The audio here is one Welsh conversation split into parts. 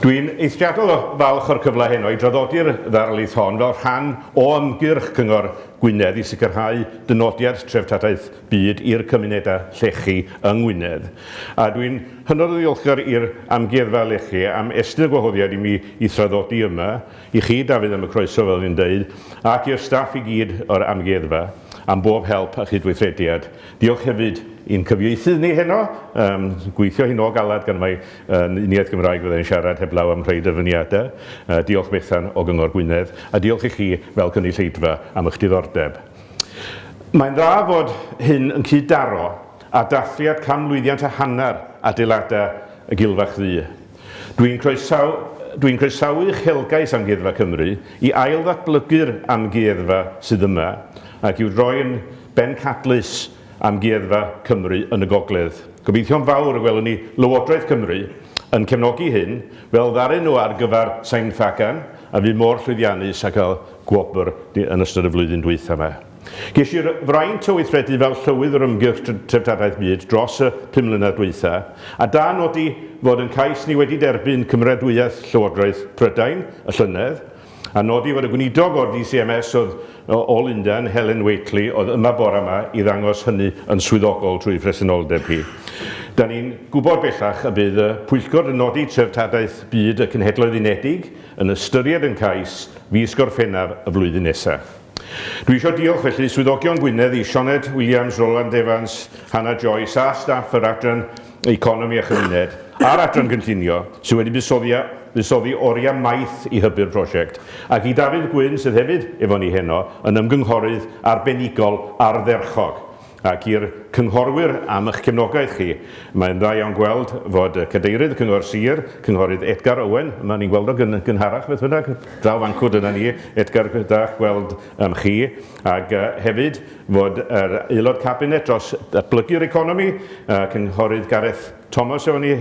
Dwi'n eithriadol o falch o'r cyfle heno i draddodi'r ddarlith hon fel rhan o ymgyrch Cyngor Gwynedd i sicrhau dynodiad treftadaeth byd i'r cymunedau llechi yng Ngwynedd a dwi'n hynod o ddiolchgar i'r Amgueddfa Lechi am estyn y gwahoddiad i mi i thraddodi yma, i chi Dafydd am y croeso fel o'n i'n deud ac i'r staff i gyd o'r Amgueddfa am bob help a chydweithrediad. Diolch hefyd i'n cyfieithydd ni heno, yym gweithio hi nôl galad gan mai yn uniaith Gymraeg fydda i'n siarad heblaw am rhai dyfyniadau. Diolch Bethan o Gyngor Gwynedd a diolch i chi fel cynulleidfa am y'ch diddordeb. Mae'n dda fod hyn yn cyd-daro â dathliad can mlwyddiant a hanner adeiladau y Gilfach Ddu. Dwi'n croesaw- dwi'n croesawu uchelgais Amgueddfa Cymru i ail-ddatblygu'r amgueddfa sydd yma ac i'w droi yn bencadlys amgueddfa Cymru yn y gogledd. Gobeithio'n fawr y gwelwn ni Lywodraeth Cymru yn cefnogi hyn, fel ddaru nhw ar gyfer Sain Ffagan, a fu mor llwyddiannus ac a gwobr yn ystod y flwyddyn dwytha yma. Ges i'r fraint o weithredu fel Llywydd yr Ymgyrch Treftadaeth Byd dros y pum mlynedd dwytha, a da nodi fod yn cais ni wedi derbyn cymeradwyaeth Llywodraeth Prydain y llynedd, a nodi fod y Gweinidog o'r DCMS oedd o Lundain, Helen Whately, oedd yma bore yma i ddangos hynny yn swyddogol trwy phresenoldeb hi. Da ni'n gwybod bellach y bydd y Pwyllgor yn nodi Treftadaeth Byd y Cenhedloedd Unedig, yn ystyried yn cais fis Gorffennaf y flwyddyn nesaf. Dwi isio diolch felly Swyddogion Gwynedd i Sioned Williams, Roland Evans, Hannah Joyce a staff yr Adran Economi a Chymuned a'r Adran Gynllunio sydd wedi buddsoddi a buddsoddi oriau maith i hybu'r prosiect, ac i Dafydd Gwyn sydd hefyd efo ni heno yn ymgynghorydd arbenigol ardderchog. ac i'r cynghorwyr am eich cefnogaeth chi. Mae'n dda iawn gweld fod Cadeirydd y Cyngor Sir, Cynghorydd Edgar Owen, yma, ni'n gweld o gyn- gynharach beth bynnag, draw fan 'cw, dyna ni, Edgar, da gweld yym chi, ac yy hefyd fod yr Aelod Cabinet dros Datblygu'r Economi, yy Cynghorydd Gareth Thomas o'n i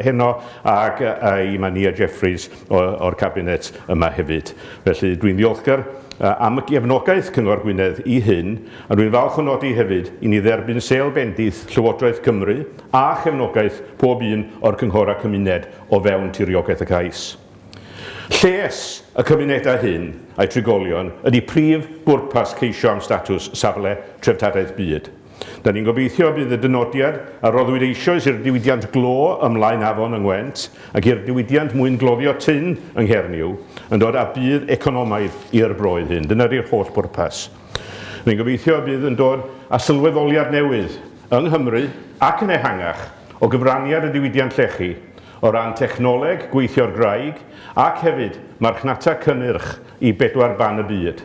heno ac i Mania Jeffreys o'r Cabinet yma hefyd. Felly, dwi'n ddiolchgar am y gefnogaeth Cyngor Gwynedd i hyn, a dwi'n falch o nodi hefyd i ni dderbyn sêl bendith Llywodraeth Cymru a chefnogaeth pob un o'r cynghor a cymuned o fewn tiriogaeth y cais. Lles y cymunedau hyn a'u trigolion ydy prif bwrpas ceisio am statws Safle Treftadaeth Byd. Da ni'n gobeithio y bydd y dynodiad a roddwyd eisoes i'r diwydiant glo ym Mlaen Afon yng Ngwent ac i'r diwydiant mwyn gloddio tun yng Nghernyw yn dod â budd economaidd i'r broydd hyn. Dyna ydy'r holl bwrpas. Rwy'n gobeithio y bydd yn dod â sylweddoliad newydd yng Nghymru ac yn ehangach o gyfraniad y diwydiant llechi o ran technoleg gweithio'r graig ac hefyd marchnata cynnyrch i bedwar ban y byd.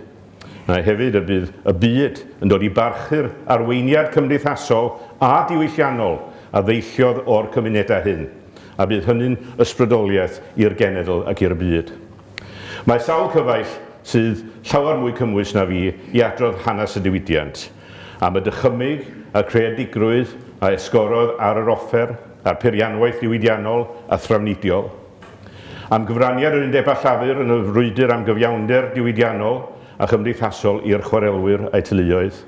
a hefyd y bydd y byd yn dod i barchu'r arweiniad cymdeithasol a diwylliannol a ddeilliodd o'r cymunedau hyn, a bydd hynny'n ysbrydoliaeth i'r genedl ac i'r byd. Mae sawl cyfaill sydd llawer mwy cymwys na fi i adrodd hanes y diwydiant, am y dychymyg a'r creadigrwydd a esgorodd ar yr offer a'r peirianwaith ddiwydiannol a thrafnidiol, am gyfraniad yr Undeb a Llafur yn y frwydr am gyfiawnder diwydiannol a chymdeithasol i'r chwarelwyr a'u teuluoedd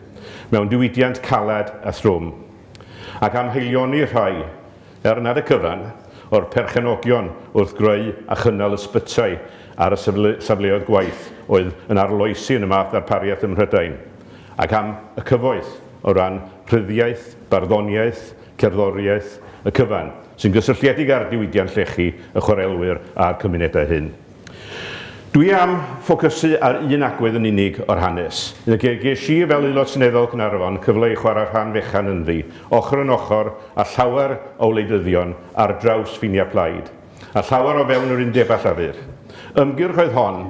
mewn diwydiant caled a thrwm, ac am haelioni rhai, er nad y cyfan, o'r perchenogion wrth greu a chynnal ysbytai ar y safleoedd gwaith oedd yn arloesi yn y math ddarpariaeth ym Mhrydain, ac am y cyfoeth o ran rhyddiaith, barddoniaeth, cerddoriaeth y cyfan, sy'n gysylltiedig â'r diwydiant llechi, y chwarelwyr a'r cymunedau hyn. Dwi am ffocysu ar un agwedd yn unig o'r hanes. Fe ges i, fel Aelod Seneddol Caernarfon, cyfle i chwarae rhan fechan ynddi, ochr yn ochr â llawer o wleidyddion ar draws ffiniau plaid, a llawer o fewn yr undeb a Llafur. Ymgyrch oedd hon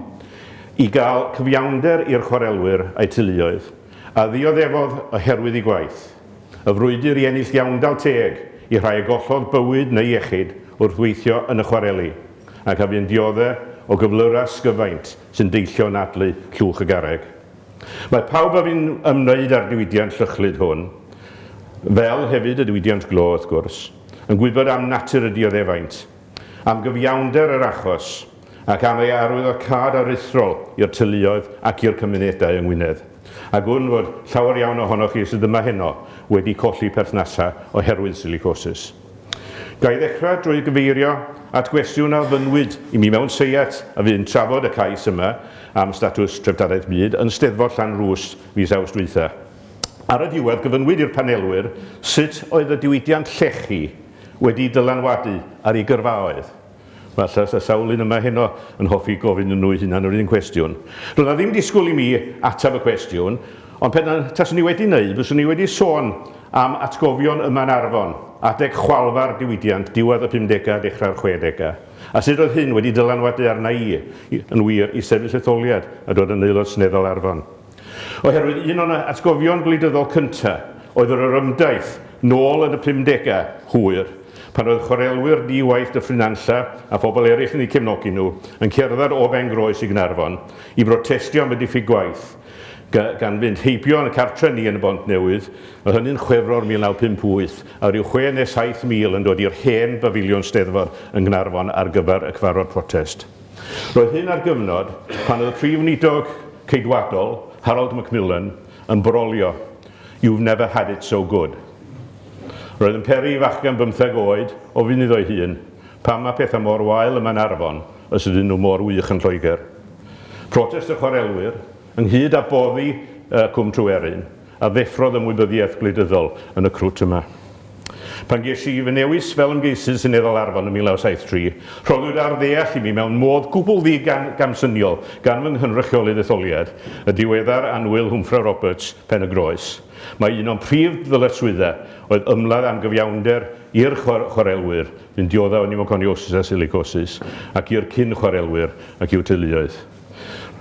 i gael cyfiawnder i'r chwarelwyr a'u teuluoedd, a ddioddefodd oherwydd eu gwaith. Y frwydr i ennill iawndal teg i rhai a gollodd bywyd neu iechyd wrth weithio yn y chwareli, ac a fu'n diodde' o gyflyrau sgyfaint sy'n deillio o anadlu llwch y garreg. Mae pawb a fu'n ymwneud â'r diwydiant llychlyd hwn, fel hefyd y diwydiant glo wrth gwrs, yn gwybod am natur y dioddefaint, am gyfiawnder yr achos, ac am ei arwyddocâd aruthrol i'r teuluoedd ac i'r cymunedau yng Ngwynedd. A gwn fod llawer iawn ohonoch chi sydd yma heno wedi colli perthnasau oherwydd silicosis. Ga i ddechrau drwy gyfeirio at gwestiwn a ofynnwyd i mi mewn seiat a fu'n trafod y cais yma am statws Treftadaeth Byd yn Steddfod Llanrwst fis Awst dwytha. Ar y diwedd gyfynnwyd i'r panelwyr sut oedd y diwydiant llechi wedi dylanwadu ar eu gyrfaoedd. Mae sawl un yma heno yn hoffi gofyn nhw eu hunain yr un cwestiwn. Doedd na ddim disgwyl i mi ateb y cwestiwn, ond pe taswn i wedi wneud, fyswn i wedi sôn am atgofion yma yn Arfon, adeg chwalfa'r diwydiant, diwedd y pumdegau, dechrau'r chwedegau, a sut oedd hyn wedi dylanwadu arna i, yn wir, i sefyll etholiad a dod yn Aelod Seneddol Arfon. Oherwydd un o'n atgofion gwleidyddol cyntaf oedd yr orymdaith, nôl yn y pumdegau, hwyr, pan oedd chwarelwyr di-waith Dyffryn Nantlle, a phobl eraill yn eu cefnogi nhw, yn cerdded o Bengroes i Gaernarfon i brotestio am y diffyg gwaith, gan fynd heibio yn y cartre ni yn y Bontnewydd, oedd hynny'n Chwefror 1958, a ryw chwe neu saith mil yn dod i'r hen bafiliwn Steddfod yn Gaernarfon ar gyfer y cyfarfod protest. Roedd hyn ar gyfnod pan oedd y Prif Weinidog Ceidwadol, Harold Macmillan, yn brolio You've never had it so good. Roedd yn peri i fachgen bymtheg oed ofyn iddo'i hun, pam mae pethau mor wael yma yn Arfon os ydyn nhw mor wych yn Lloegr? Protest y chwarelwyr, ynghyd â boddi Cwm Tryweryn, a ddeffrodd ymwybyddiaeth gwleidyddol yn y crwt yma. Pan ges i fy newis fel ymgeisydd seneddol Arfon yn 1973, rhoddwyd ar ddeall i mi mewn modd gwbl ddi-gamsyniol gan fy nghynrychiolydd etholiad, y diweddar annwyl Hwmffra Roberts, Pen-y-groes, mai un o'n prif ddyletswyddau oedd ymladd am gyfiawnder i'r chwarelwyr sy'n diodda' o niwmoconiosis a silicosis ac i'r cyn-chwarelwyr ac i'w teuluoedd.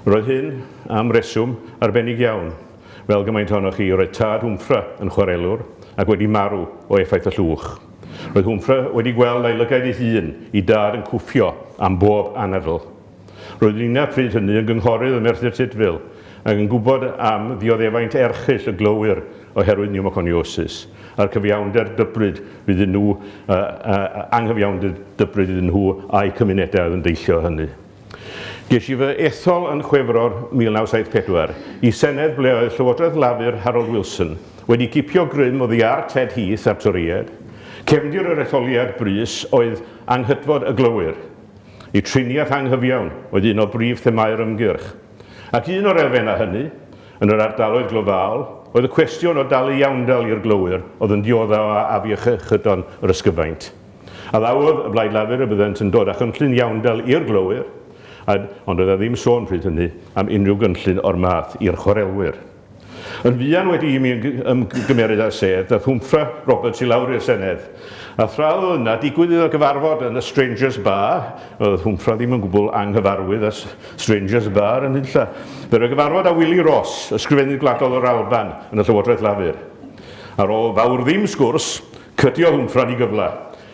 Roedd hyn, am reswm, arbennig iawn. fel gymaint ohonoch chi, roedd tad Hwmffra yn chwarelwr ac wedi marw o effaith y llwch. Roedd Hwmffra wedi gweld a'i lygaid ei hun i dad yn cwffio am bob anadl. Roedd Nina pryd hynny yn gynghorydd ym Merthyr Tudful ac yn gwybod am ddioddefaint erchyll y glowyr oherwydd niwmoconiosis a'r cyfiawnder dybryd iddyn nhw, anghyfiawnder dybryd iddyn nhw a'u cymunedau oedd yn deillio o hynny. Ges i fy ethol yn Chwefror 1974 i Senedd ble oedd Llywodraeth Lafur Harold Wilson wedi cipio grym oddi ar Ted Heath a'r Torïaid. Cefndir yr etholiad brys oedd anghytfod y glowyr. Y triniaeth anghyfiawn oedd un o brif themâu'r ymgyrch. Ac un o'r elfennau hynny, yn yr ardaloedd glofaol, oedd y cwestiwn o dalu iawndal i'r glowyr oedd yn diodda' o afiechydon yr ysgyfaint. A ddawodd y Blaid Lafur y byddent yn dod â chynllun iawndal i'r glowyr, a, ond oedd 'na ddim sôn pryd hynny am unrhyw gynllun o'r math i'r chwarelwyr. Yn fuan wedi i mi ymgymeryd â sedd, daeth Hwmfra Roberts i lawr i'r Senedd, a thra oedd o yna, digwydd iddo gyfarfod yn y Strangers Bar, oedd Hwmfra ddim yn gwbl anghyfarwydd â Strangers Bar yn nunlla, fe roi gyfarfod â Willie Ross, Ysgrifennydd Gwladol yr Alban yn y Llywodraeth Lafur. Ar ôl fawr ddim sgwrs, Cydiodd Wnffran i gyfle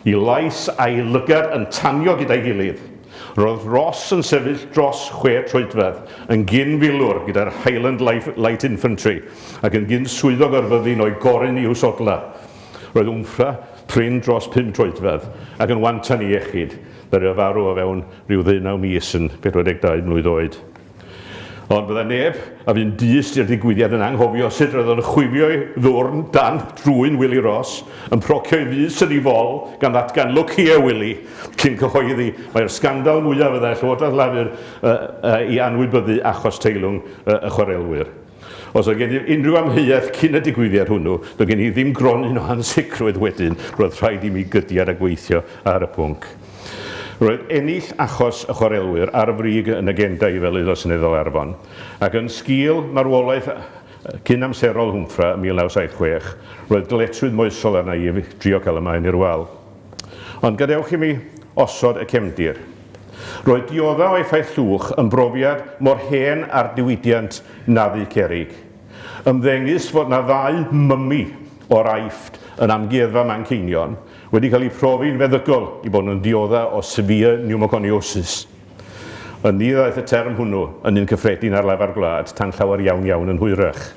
i lais a'i lygad yn tanio gyda'i gilydd. Roedd Ross yn sefyll dros chwe troedfedd, yn gyn-filwr gyda'r Highland Light Infantry ac yn gyn-swyddog ar fyddin o'i goryn i'w sodlau. Roedd Wnffra prin dros pum troedfedd ac yn wantan iechyd, ddaru o farw o fewn rhyw ddeunaw mis yn 42 mlwydd oed. Ond bydda neb a fu'n dyst i'r digwyddiad yn anghofio sut roedd o'n chwifio'i ddwrn dan drwyn Wili Ross, yn procio'i fys yn ei fol, gan ddatgan 'Look here, Wili! cyn cyhoeddi mai'r sgandal mwyaf fyddai'r Llywodraeth Lafur i anwybyddu achos teilwng y chwarelwyr. Os oedd gennyf unrhyw amheuaeth cyn y digwyddiad hwnnw, doedd gen i ddim gronyn o ansicrwydd wedyn, roedd rhaid i mi gydiad a gweithio ar y pwnc. Roedd ennill achos y chwarelwyr ar y brig yn agenda i fel Aelod Seneddol Arfon, ac yn sgil marwolaeth cyn-amserol Hwmffra ym 1976, roedd dyletswydd moesol arna i drio cael y maen i'r wal. Ond gadewch i mi osod y cefndir. Roedd dioddef o effaith llwch yn brofiad mor hen â'r diwydiant na fu cerrig. Ymddengys fod 'na ddau mummy o'r Aifft yn Amgueddfa Manceinion wedi cael eu profi'n feddygol i fod yn ddioddef o severe pneumoconiosis. Ynni ddaeth y term hwnnw yn un cyffredin ar lafar gwlad tan llawer iawn iawn yn hwyrach.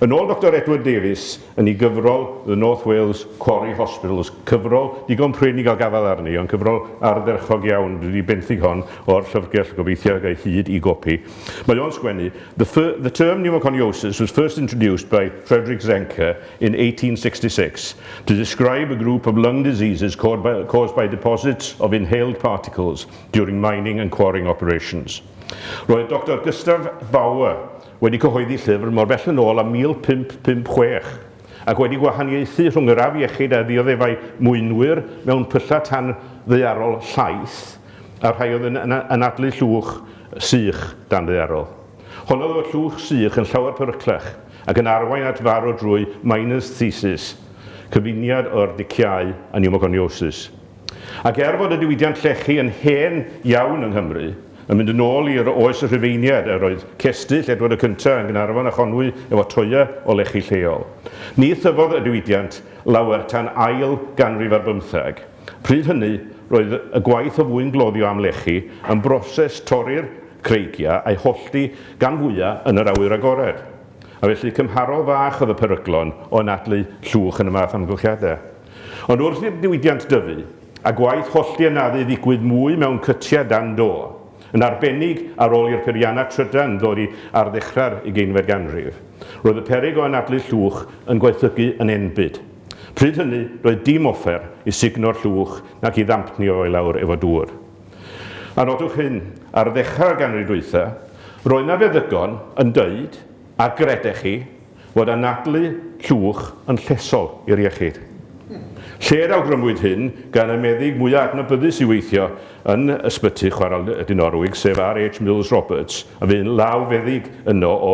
Yn ôl Doctor Edward Davies, yn ei gyfrol The North Wales Quarry Hospitals, cyfrol digon prin i gael gafael arni, ond cyfrol ardderchog iawn, dwi 'di benthyg hon o'r llyfrgell, gobeithio gai hyd i gopi, mae o'n sgwennu, The, the term pneumoconiosis was first introduced by Frederick Zenker in 1866 to describe a group of lung diseases caused by, caused by deposits of inhaled particles during mining and quarrying operations. Roedd Doctor Gustav Bauer wedi cyhoeddi llyfr mor bell yn ôl â 1556, ac wedi gwahaniaethu rhwng yr afiechyd a ddioddefai mwynwyr mewn pyllau tan ddaearol llaith a'r rhai oedd yn anadlu llwch sych dan ddaearol. Honnodd fod llwch sych yn llawer peryclach ac yn arwain at farw drwy Miner's Thesis, cyfuniad o'r diciâu a niwmogoniosis. Ac er fod y diwydiant llechi yn hen iawn yng Nghymru, yn mynd yn ôl i'r oes y Rhufeiniaid, yr oedd cestyll Edward y Cyntaf yn Gaernarfon a Chonwy efo toea o lechi lleol. Ni thyfodd y diwydiant lawer tan ail ganrif ar bymtheg. Pryd hynny, roedd y gwaith o fwyn gloddio am lechi yn broses torri'r creigia a'u hollti gan fwya yn yr awyr agored. A felly cymharol fach oedd y peryglon o anadlu llwch yn y math amgylchiade. Ond wrth i'r diwydiant dyfu, a gwaith hollti anafu ddigwydd mwy mewn cytiau dan do, yn arbennig ar ol i'r peiriannau trydan ddori ar ddechrau'r ugeinfed ganrif, roedd y peryg o anadlu llwch yn gwaethygu yn enbyd. Pryd hynny, doedd dim offer i sugno'r llwch nac i ddampnio i lawr efo dŵr. A nodwch hyn, ar ddechrau'r ganrif dwytha, roedd 'na feddygon yn deud, a gredech chi, fod anadlu llwch yn llesol i'r iechyd. Lle'r awgrymwyd hyn gan y meddyg mwyaf adnabyddus i weithio yn Ysbyty Chwarel De Norwig, sef RH Mills Roberts, a fu'n lawfeddyg yno o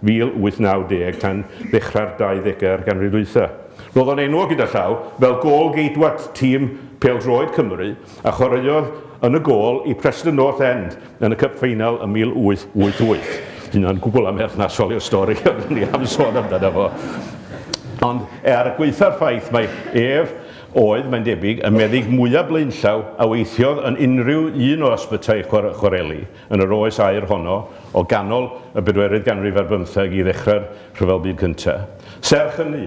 1890 tan ddechrau'r 20au'r ganrif ddwytha. Roedd o'n enwog gyda llaw fel gôl-geidwad tîm pêl-droed Cymru a chwaraeodd yn y gôl i Preston North End yn y Cup Final ym 1888. Dydy hynna'n gwbl amherthnasol i'r stori ond o'n i am sôn amdano fo. Ond er gwaetha'r ffaith mai ef oedd, mae'n debyg, y meddyg mwyaf blaenllaw a weithiodd yn unrhyw un o ysbytai chwareli yn yr oes aur honno o ganol y bedwerydd ganrif ar bymtheg i ddechrau'r Rhyfel Byd Cyntaf. Serch hynny,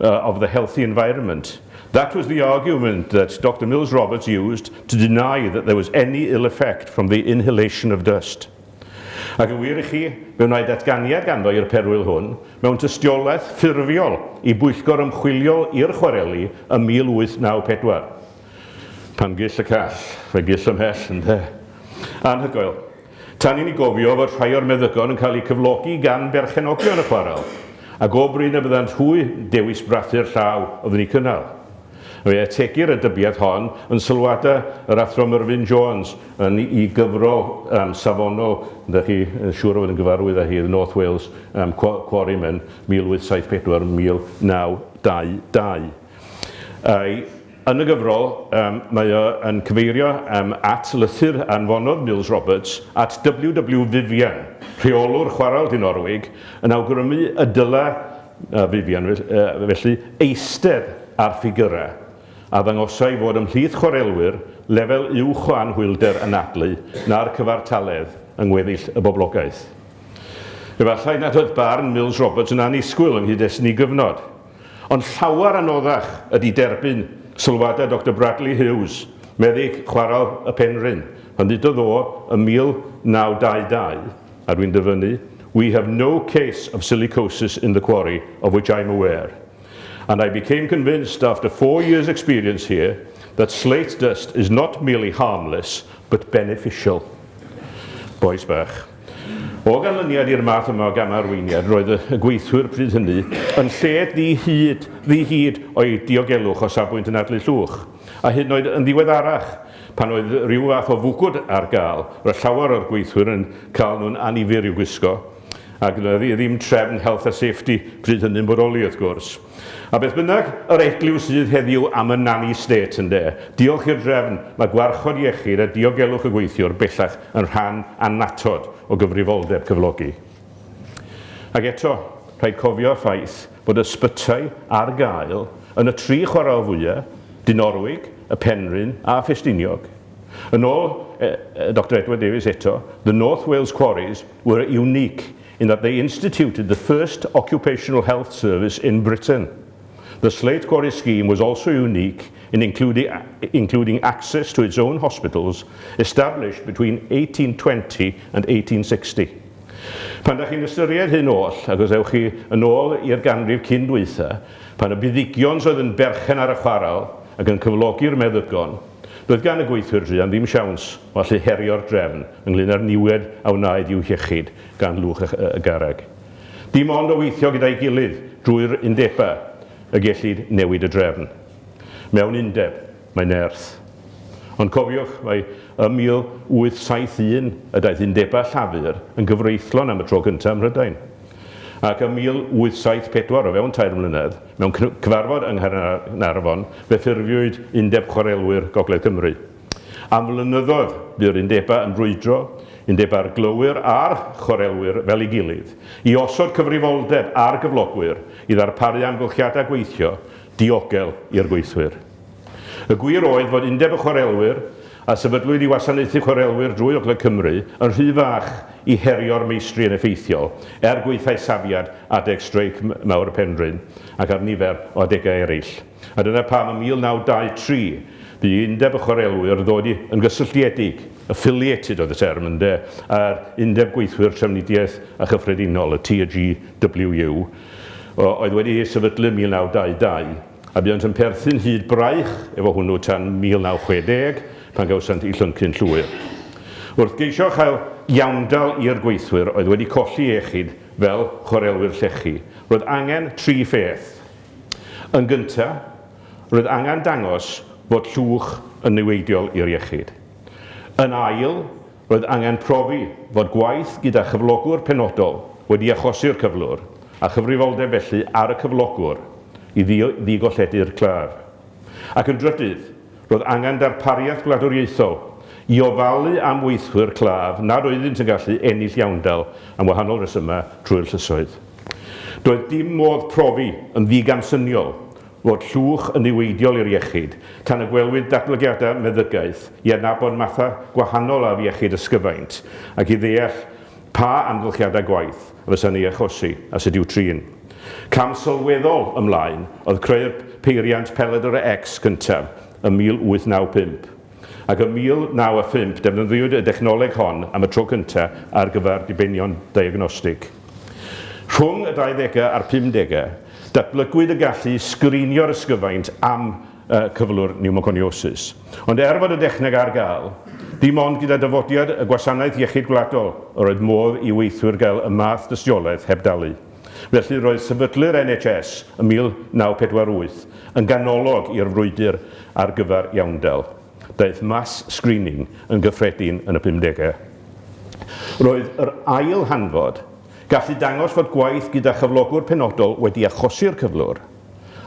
uh, of the healthy environment. That was the argument that Dr Mills Roberts used to deny that there was any ill effect from the inhalation of dust. Ac yn wir i chi, fe wnaed datganiad ganddo i'r perwyl hwn mewn tystiolaeth ffurfiol i bwyllgor ymchwilio i'r chwareli ym 1894. Pan gill y call, fe gill ymhell, ynddo. Anhygoel. Tan i ni gofio fod rhai o'r meddygon yn cael eu cyflogi gan berchenogion y chwarel, a go brin y byddant hwy yn dewis brathu'r llaw oeddwn ni'n cynnal. Fe ategir y dybiad hon yn sylwadau yr Athro Myrfyn Jones yn i gyfrol um, safonol, ydych chi yn siŵr o fod yn gyfarwydd â hi, The North Wales um, Quarrymen, 1874-1922. Ai, Yn y gyfrol, mae o yn cyfeirio at lythyr a anfonodd Mills Roberts at WW Vivian, rheolwr chwarel du Norwig, yn awgrymu y dylai Vivian felly eistedd ar ffigyrau a ddangosai fod ymhlith chwarelwyr lefel uwch o anhwylder anadlu na'r cyfartaledd yng ngweddill y boblogaeth. Efallai nad oedd barn Mills Roberts yn annisgwyl yng nghyd-destun ei gyfnod, Ond llawer anoddach ydi derbyn sylwadau Doctor Bradley Hughes, meddyg chwarel y Penrhyn, pan ddudodd o ym 1922, a dwi'n dyfynnu, We have no case of silicosis in the quarry of which I'm aware, and I became convinced after four years experience here that slate dust is not merely harmless but beneficial. Bois bach. O ganlyniad i'r math yma o gam-arweiniad, roedd y gweithwyr pryd hynny yn lled ddi-hyd, ddi-hid o'u diogelwch o safbwynt anadlu llwch, a hyd yn oed yn ddiweddarach, pan oedd rhyw fath o fwgwd ar gael, roedd llawer o'r gweithwyr yn cael nhw'n annifyr i'w gwisgo, a gwnaf i ddim trefn Health a Safety pryd hynny'n bodoli, wrth gwrs. A beth bynnag yr eglwys sydd heddiw am y nanny state, ynde, diolch i'r drefn, mae gwarchod iechyd a diogelwch y gweithiwr bellach yn rhan annatod o gyfrifoldeb cyflogi. Ac eto, rhaid cofio y ffaith bod ysbytai ar gael yn y tri chwarel fwya', Dinorwig, y Penrhyn a Ffestiniog. Yn ôl Doctor Edward Davies eto, The North Wales Quarries were unique in that they instituted the first occupational health service in Britain. The Slate Quarry scheme was also unique in including, including access to its own hospitals established between 1820 and 1860. Pan da chi'n ystyried hyn oll, ac os ewch chi yn ôl i'r ganrif cyn dwytha, pan y buddigions oedd yn berchen ar y chwaral ac yn cyflogi'r meddygon, Doedd gan y gweithwyr druan ddim siawns o allu herio'r drefn ynglŷn â'r niwed a wnaed i'w hiechyd gan lwch y garreg. Dim ond o weithio gyda'i gilydd drwy'r undebau y gellid newid y drefn. Mewn undeb, mae nerth. Ond cofiwch mai ym 1871 y daeth undebau Llafur yn gyfreithlon am y tro cyntaf ym Mhrydain. Ac ym 1874, o fewn tair mlynedd, Mewn cyfarfod yng Nghaernarfon fe ffurfiwyd Undeb Chwarelwyr Gogledd Cymru. Am flynyddoedd bu'r undebau yn brwydro, undebau'r glowyr a'r chwarelwyr fel ei gilydd, i osod cyfrifoldeb ar gyflogwyr i ddarparu amgylchiadau gweithio diogel i'r gweithwyr. Y gwir oedd fod Undeb y Chwarelwyr a sefydlwyd i wasanaethu chwarelwyr drwy Ogledd Cymru, yn rhy fach i herio'r meistri yn effeithiol, er gwaethai safiad adeg streic mawr y Penrhyn ac ar nifer o adegau eraill. A dyna pam ym 1923 bu Undeb y Chwarelwyr ddod i yn gysylltiedig, affiliated oedd y term ynde, â'r Undeb Gweithwyr Trafnidiaeth a Chyffredinol, y TGWU, oedd wedi ei sefydlu ym 1922. a buont yn perthyn hyd braich efo hwnnw tan 1960, pan gawsant eu llyncu'n llwyr. Wrth geisio cael iawndal i'r gweithwyr oedd wedi colli iechyd fel chwarelwyr llechi, roedd angen tri pheth. Yn gyntaf, roedd angen dangos fod llwch yn niweidiol i'r iechyd. Yn ail, Roedd angen profi fod gwaith gyda chyflogwr penodol wedi achosi'r cyflwr, a chyfrifoldeb felly ar y cyflogwr i ddigolledu'r claf. Ac yn drydydd, roedd angen darpariaeth gwladwriaethol i ofalu am weithwyr claf nad oeddynt yn gallu ennill iawndal am wahanol resymau trwy'r llysoedd. Doedd dim modd profi yn ddigamsyniol fod llwch yn niweidiol i'r iechyd, tan y gwelwyd datblygiadau meddygaeth i adnabod mathau gwahanol o afiechyd ysgyfaint ac i ddeall pa amgylchiadau gwaith a fysa'n ei achosi a sut i'w trin. Cam sylweddol ymlaen oedd creu'r peiriant pelydr X cyntaf ym 1895. ac ym 1905 defnyddiwyd y dechnoleg hon am y tro cyntaf ar gyfer dibenion diagnostig. Rhwng y 20au a'r 50au, datblygwyd y gallu i sgrinio'r ysgyfaint am cyflwr niwmoconiosis. Ond er fod y dechneg ar gael, dim ond gyda dyfodiad y Gwasanaeth Iechyd Gwladol yr oedd modd i weithwyr gael y math dystiolaeth heb dalu. Felly, roedd sefydlu'r NHS ym 1948 yn ganolog i'r frwydr ar gyfer iawndal. Daeth mass screening yn gyffredin yn y pumdegau. Roedd yr ail hanfod, gallu dangos fod gwaith gyda chyflogwr penodol wedi achosi'r cyflwr,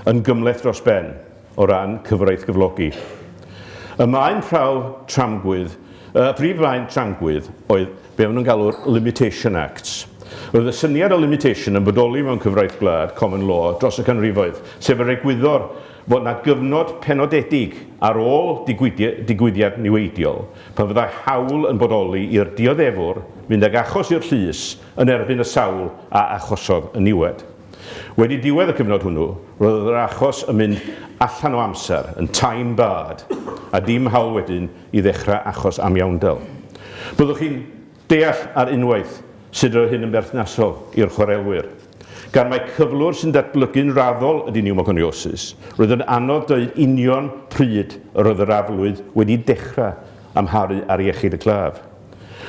yn gymhleth dros ben. o ran cyfraith gyflogi. Y maen prawf tramgwydd, y prif faen tramgwydd oedd be maen nhw'n galw'r Limitation Acts. Roedd y syniad o limitation yn bodoli mewn cyfraith gwlad, common law, dros y canrifoedd, sef yr egwyddor fod yna gyfnod penodedig ar ôl digwyddiad niweidiol pan fyddai hawl yn bodoli i'r dioddefwr fynd ag achos i'r llys yn erbyn y sawl a achosodd y niwed. Wedi diwedd y cyfnod hwnnw, roedd yr achos yn mynd allan o amser, yn time barred, a dim hawl wedyn i ddechrau achos amiawndel. Byddwch chi'n deall ar unwaith sut roedd hyn yn berthnasol i'r chwarelwyr. Gan mai cyflwr sy'n datblygu'n raddol ydy niwmoconiosis, roedd yn anodd dweud union pryd yr oedd yr aflwydd wedi dechrau amharu ar iechyd y claf.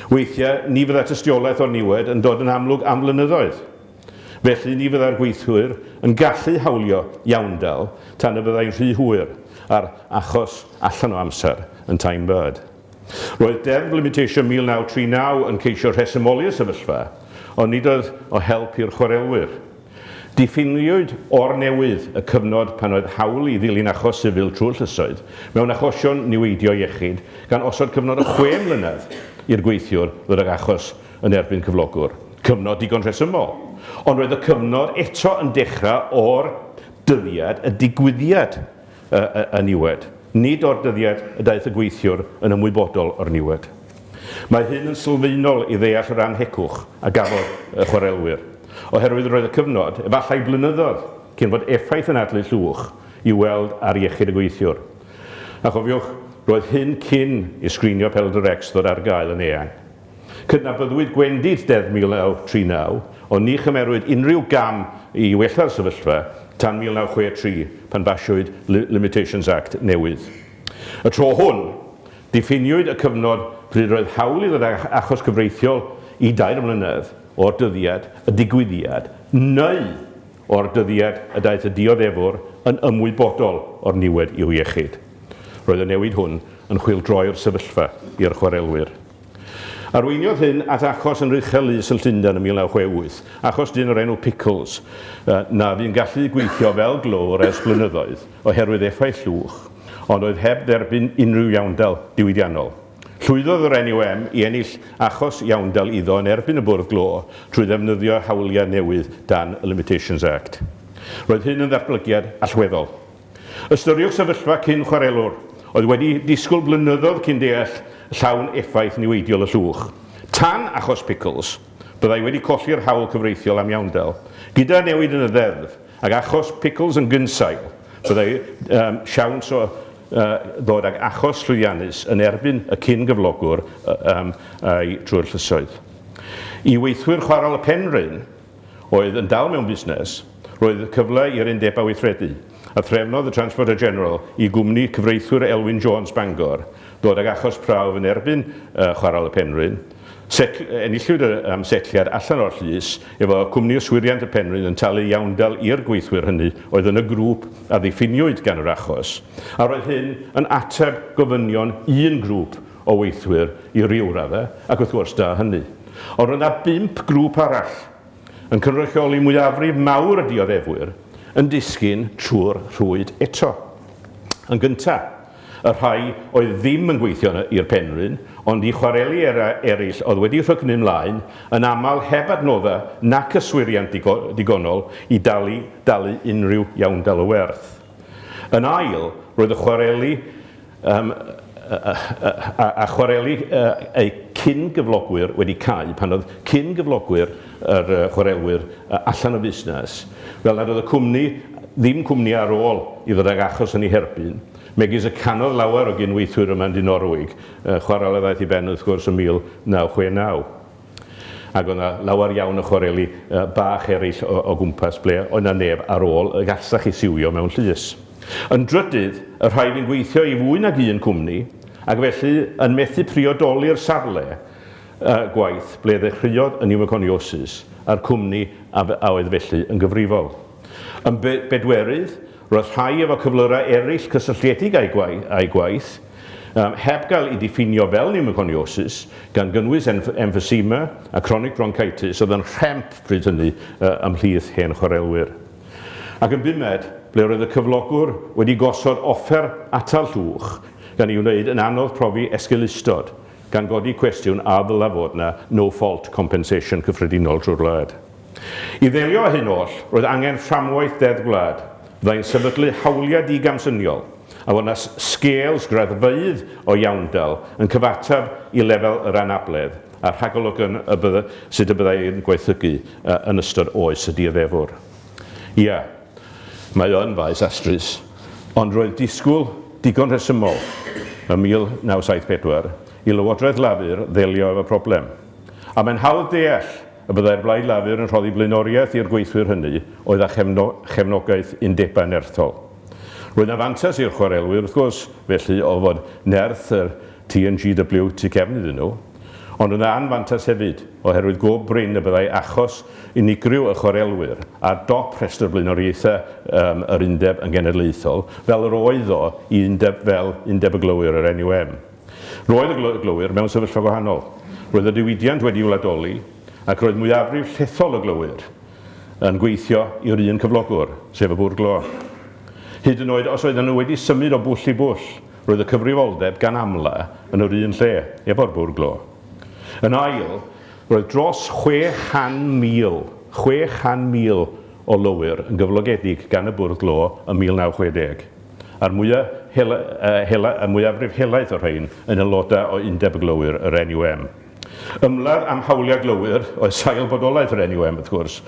Weithiau, ni fydda tystiolaeth o'r niwed yn dod yn amlwg am flynyddoedd. Felly, ni fyddai'r gweithwyr yn gallu hawlio iawndal tan y byddai'n rhy hwyr, a'r achos allan o amser yn Tyne Bird. Roedd Deddf Limitation 1939 yn ceisio rhesymoli y sefyllfa, ond nid oedd o help i'r chwarelwyr. Diffiniwyd o'r newydd y cyfnod pan oedd hawl i ddilyn achos sifil trwy'r llysoedd mewn achosion niweidio iechyd, gan osod cyfnod o chwe mlynedd i'r gweithiwr ddod ag achos yn erbyn cyflogwr. Cyfnod digon rhesymol. Ond roedd y cyfnod eto yn dechrau o'r dyddiad y digwyddiad y niwed, nid o'r dyddiad y daeth y gweithiwr yn ymwybodol o'r niwed. Mae hyn yn sylfaenol i ddeall yr annhegwch a gafodd y chwarelwyr, oherwydd roedd y cyfnod, efallai blynyddoedd, cyn fod effaith yn adlu llwch i'w weld ar iechyd y gweithiwr. A chofiwch, roedd hyn cyn i sgrinio Pêl-droed-Rex ddod ar gael yn eang. Cydnabyddwyd gwendid Deddf 1939, ond ni chymerwyd unrhyw gam i wella'r sefyllfa tan 1963 pan basiwyd Limitations Act newydd. Y tro hwn, diffiniwyd y cyfnod pryd roedd hawl i ddod â achos cyfreithiol i dair mlynedd o'r dyddiad y digwyddiad neu o'r dyddiad y daeth y dioddefwr yn ymwybodol o'r niwed i'w iechyd. Roedd y newid hwn yn chwyldroi'r sefyllfa i'r chwarelwyr. Arweiniodd hyn at achos yn Rychel Lys yn Llundain yn 1968, achos dyn o'r enw Pickles, na fu'n gallu gweithio fel glöwr ers blynyddoedd oherwydd effaith llwch, ond oedd heb dderbyn unrhyw iawndal diwydiannol. Llwyddodd yr NUM i ennill achos iawndal iddo yn erbyn y Bwrdd Glo trwy ddefnyddio hawliau newydd dan y Limitations Act. Roedd hyn yn ddatblygiad allweddol. Ystyriwch sefyllfa cyn chwarelwr oedd wedi disgwyl blynyddoedd cyn deall llawn effaith niweidiol y llwch. Tan achos Pickles, byddai wedi colli'r hawl cyfreithiol am iawndal. Gyda newid yn y ddeddf, ac achos Pickles yn gynsail, byddai um, siawns o uh, ddod ag achos llwyddiannus yn erbyn y cyn-gyflogwr uh, um, a'i trwy'r llysoedd. I weithwyr chwarel y Penrhyn, oedd yn dal mewn busnes, roedd cyfle i'r undebau weithredu, a threfnodd y Transporter General i gwmni cyfreithwyr Elwyn Jones, Bangor, ddod ag achos prawf yn erbyn Chwarel y Penrhyn. Setl, enillwyd am setliad allan o'r llys, efo Cwmni Yswiriant y Penrhyn yn talu iawndal i'r gweithwyr hynny oedd yn y grŵp a ddiffiniwyd gan yr achos, a roedd hyn yn ateb gofynion un grŵp o weithwyr i ryw raddau, ac wrth gwrs, da hynny. Ond roedd yna bump grŵp arall, yn cynrychioli mwyafrif mawr y dioddefwyr, yn disgyn trwy'r rhwyd eto. Yn gyntaf, y rhai oedd ddim yn gweithio i'r Penrhyn, ond i chwareli eraill oedd wedi rhygnu mlaen, yn aml heb adnoddau nac yswiriant digonol i dalu dalu unrhyw iawndal o werth. Yn ail, roedd y chwareli Yym, a, a, a chwareli eu cyn-gyflogwyr wedi cau, pan oedd cyn-gyflogwyr yr chwarelwyr allan o fusnes, fel nad oedd y cwmni, ddim cwmni ar ôl i ddod ag achos yn ei herbyn, megis y canodd lawer o gyn-weithwyr yma yn Dinorwig, chwarel a ddaeth i ben wrth gwrs yn 1969. Ac oedd 'na lawer iawn o chwareli bach eraill o gwmpas ble oedd 'na neb ar ôl y gallech chi siwio mewn llys. Yn drydydd, y rhai fu'n gweithio i fwy nag un cwmni, ac felly yn methu priodoli'r safle gwaith ble ddechreuodd y niwmoconiosis a'r cwmni a oedd felly yn gyfrifol. Yn bedwerydd, Roedd rhai efo cyflyrau eraill cysylltiedig â'u gwaith, heb gael eu diffinio fel pneumoconiosis, gan gynnwys emphysema a chronic bronchitis oedd yn rhemp pryd hynny ymhlith hen chwarelwyr. Ac yn bumed, ble roedd y cyflogwr wedi gosod offer atal llwch, gan ei wneud yn anodd profi esgeulustod, gan godi cwestiwn a ddylai fod 'na no-fault compensation cyffredinol drwy'r wlad. I ddelio â hyn oll, roedd angen fframwaith Deddf Gwlad fyddai'n sefydlu hawliau digamsyniol a fod yna sgêl sgraddfeydd o iawndal yn cyfateb i lefel yr anabledd a'r rhagolygon y bydd, sut y byddai yn gwaethygu yn ystod oes y dioddefwr. Ia, mae o yn faes astrus, ond roedd disgwyl digon rhesymol ym 1974 i Lywodraeth Lafur ddelio efo'r problem. A mae'n hawdd deall Y byddai'r Blaid Lafur yn rhoddi blaenoriaeth i'r gweithwyr hynny oedd â chefnogaeth undebau nerthol. Roedd yna fantais i'r chwarelwyr, wrth gwrs, felly, o fod nerth y TNGW tu cefn iddyn nhw, ond roedd yna anfantais hefyd, oherwydd go brin y byddai achos unigryw y chwarelwyr ar dop rhestr blaenoriaethau yr undeb yn genedlaethol, fel yr oedd o i undeb fel Undeb y Glowyr, yr NUM. Roedd y glowyr mewn sefyllfa gwahanol. Roedd y diwydiant wedi wladoli ac roedd mwyafrif llethol y glowyr yn gweithio i'r un cyflogwr, sef y bwrdd glo. Hyd yn oed os oedden nhw wedi symud o bwll i bwll, roedd y cyfrifoldeb gan amla yn yr un lle, efo'r bwrdd glo. Yn ail, roedd dros 600,000, 600,000 o lowyr yn gyflogedig gan y bwrdd glo ym 1960. a'r mwya hela, uh, hela, y mwyafrif helaeth o'r rhain yn aelodau o Undeb y Glowyr, yr NUM. Ymladd am hawliau glowyr oedd sail bodolaeth yr NUM, wrth gwrs.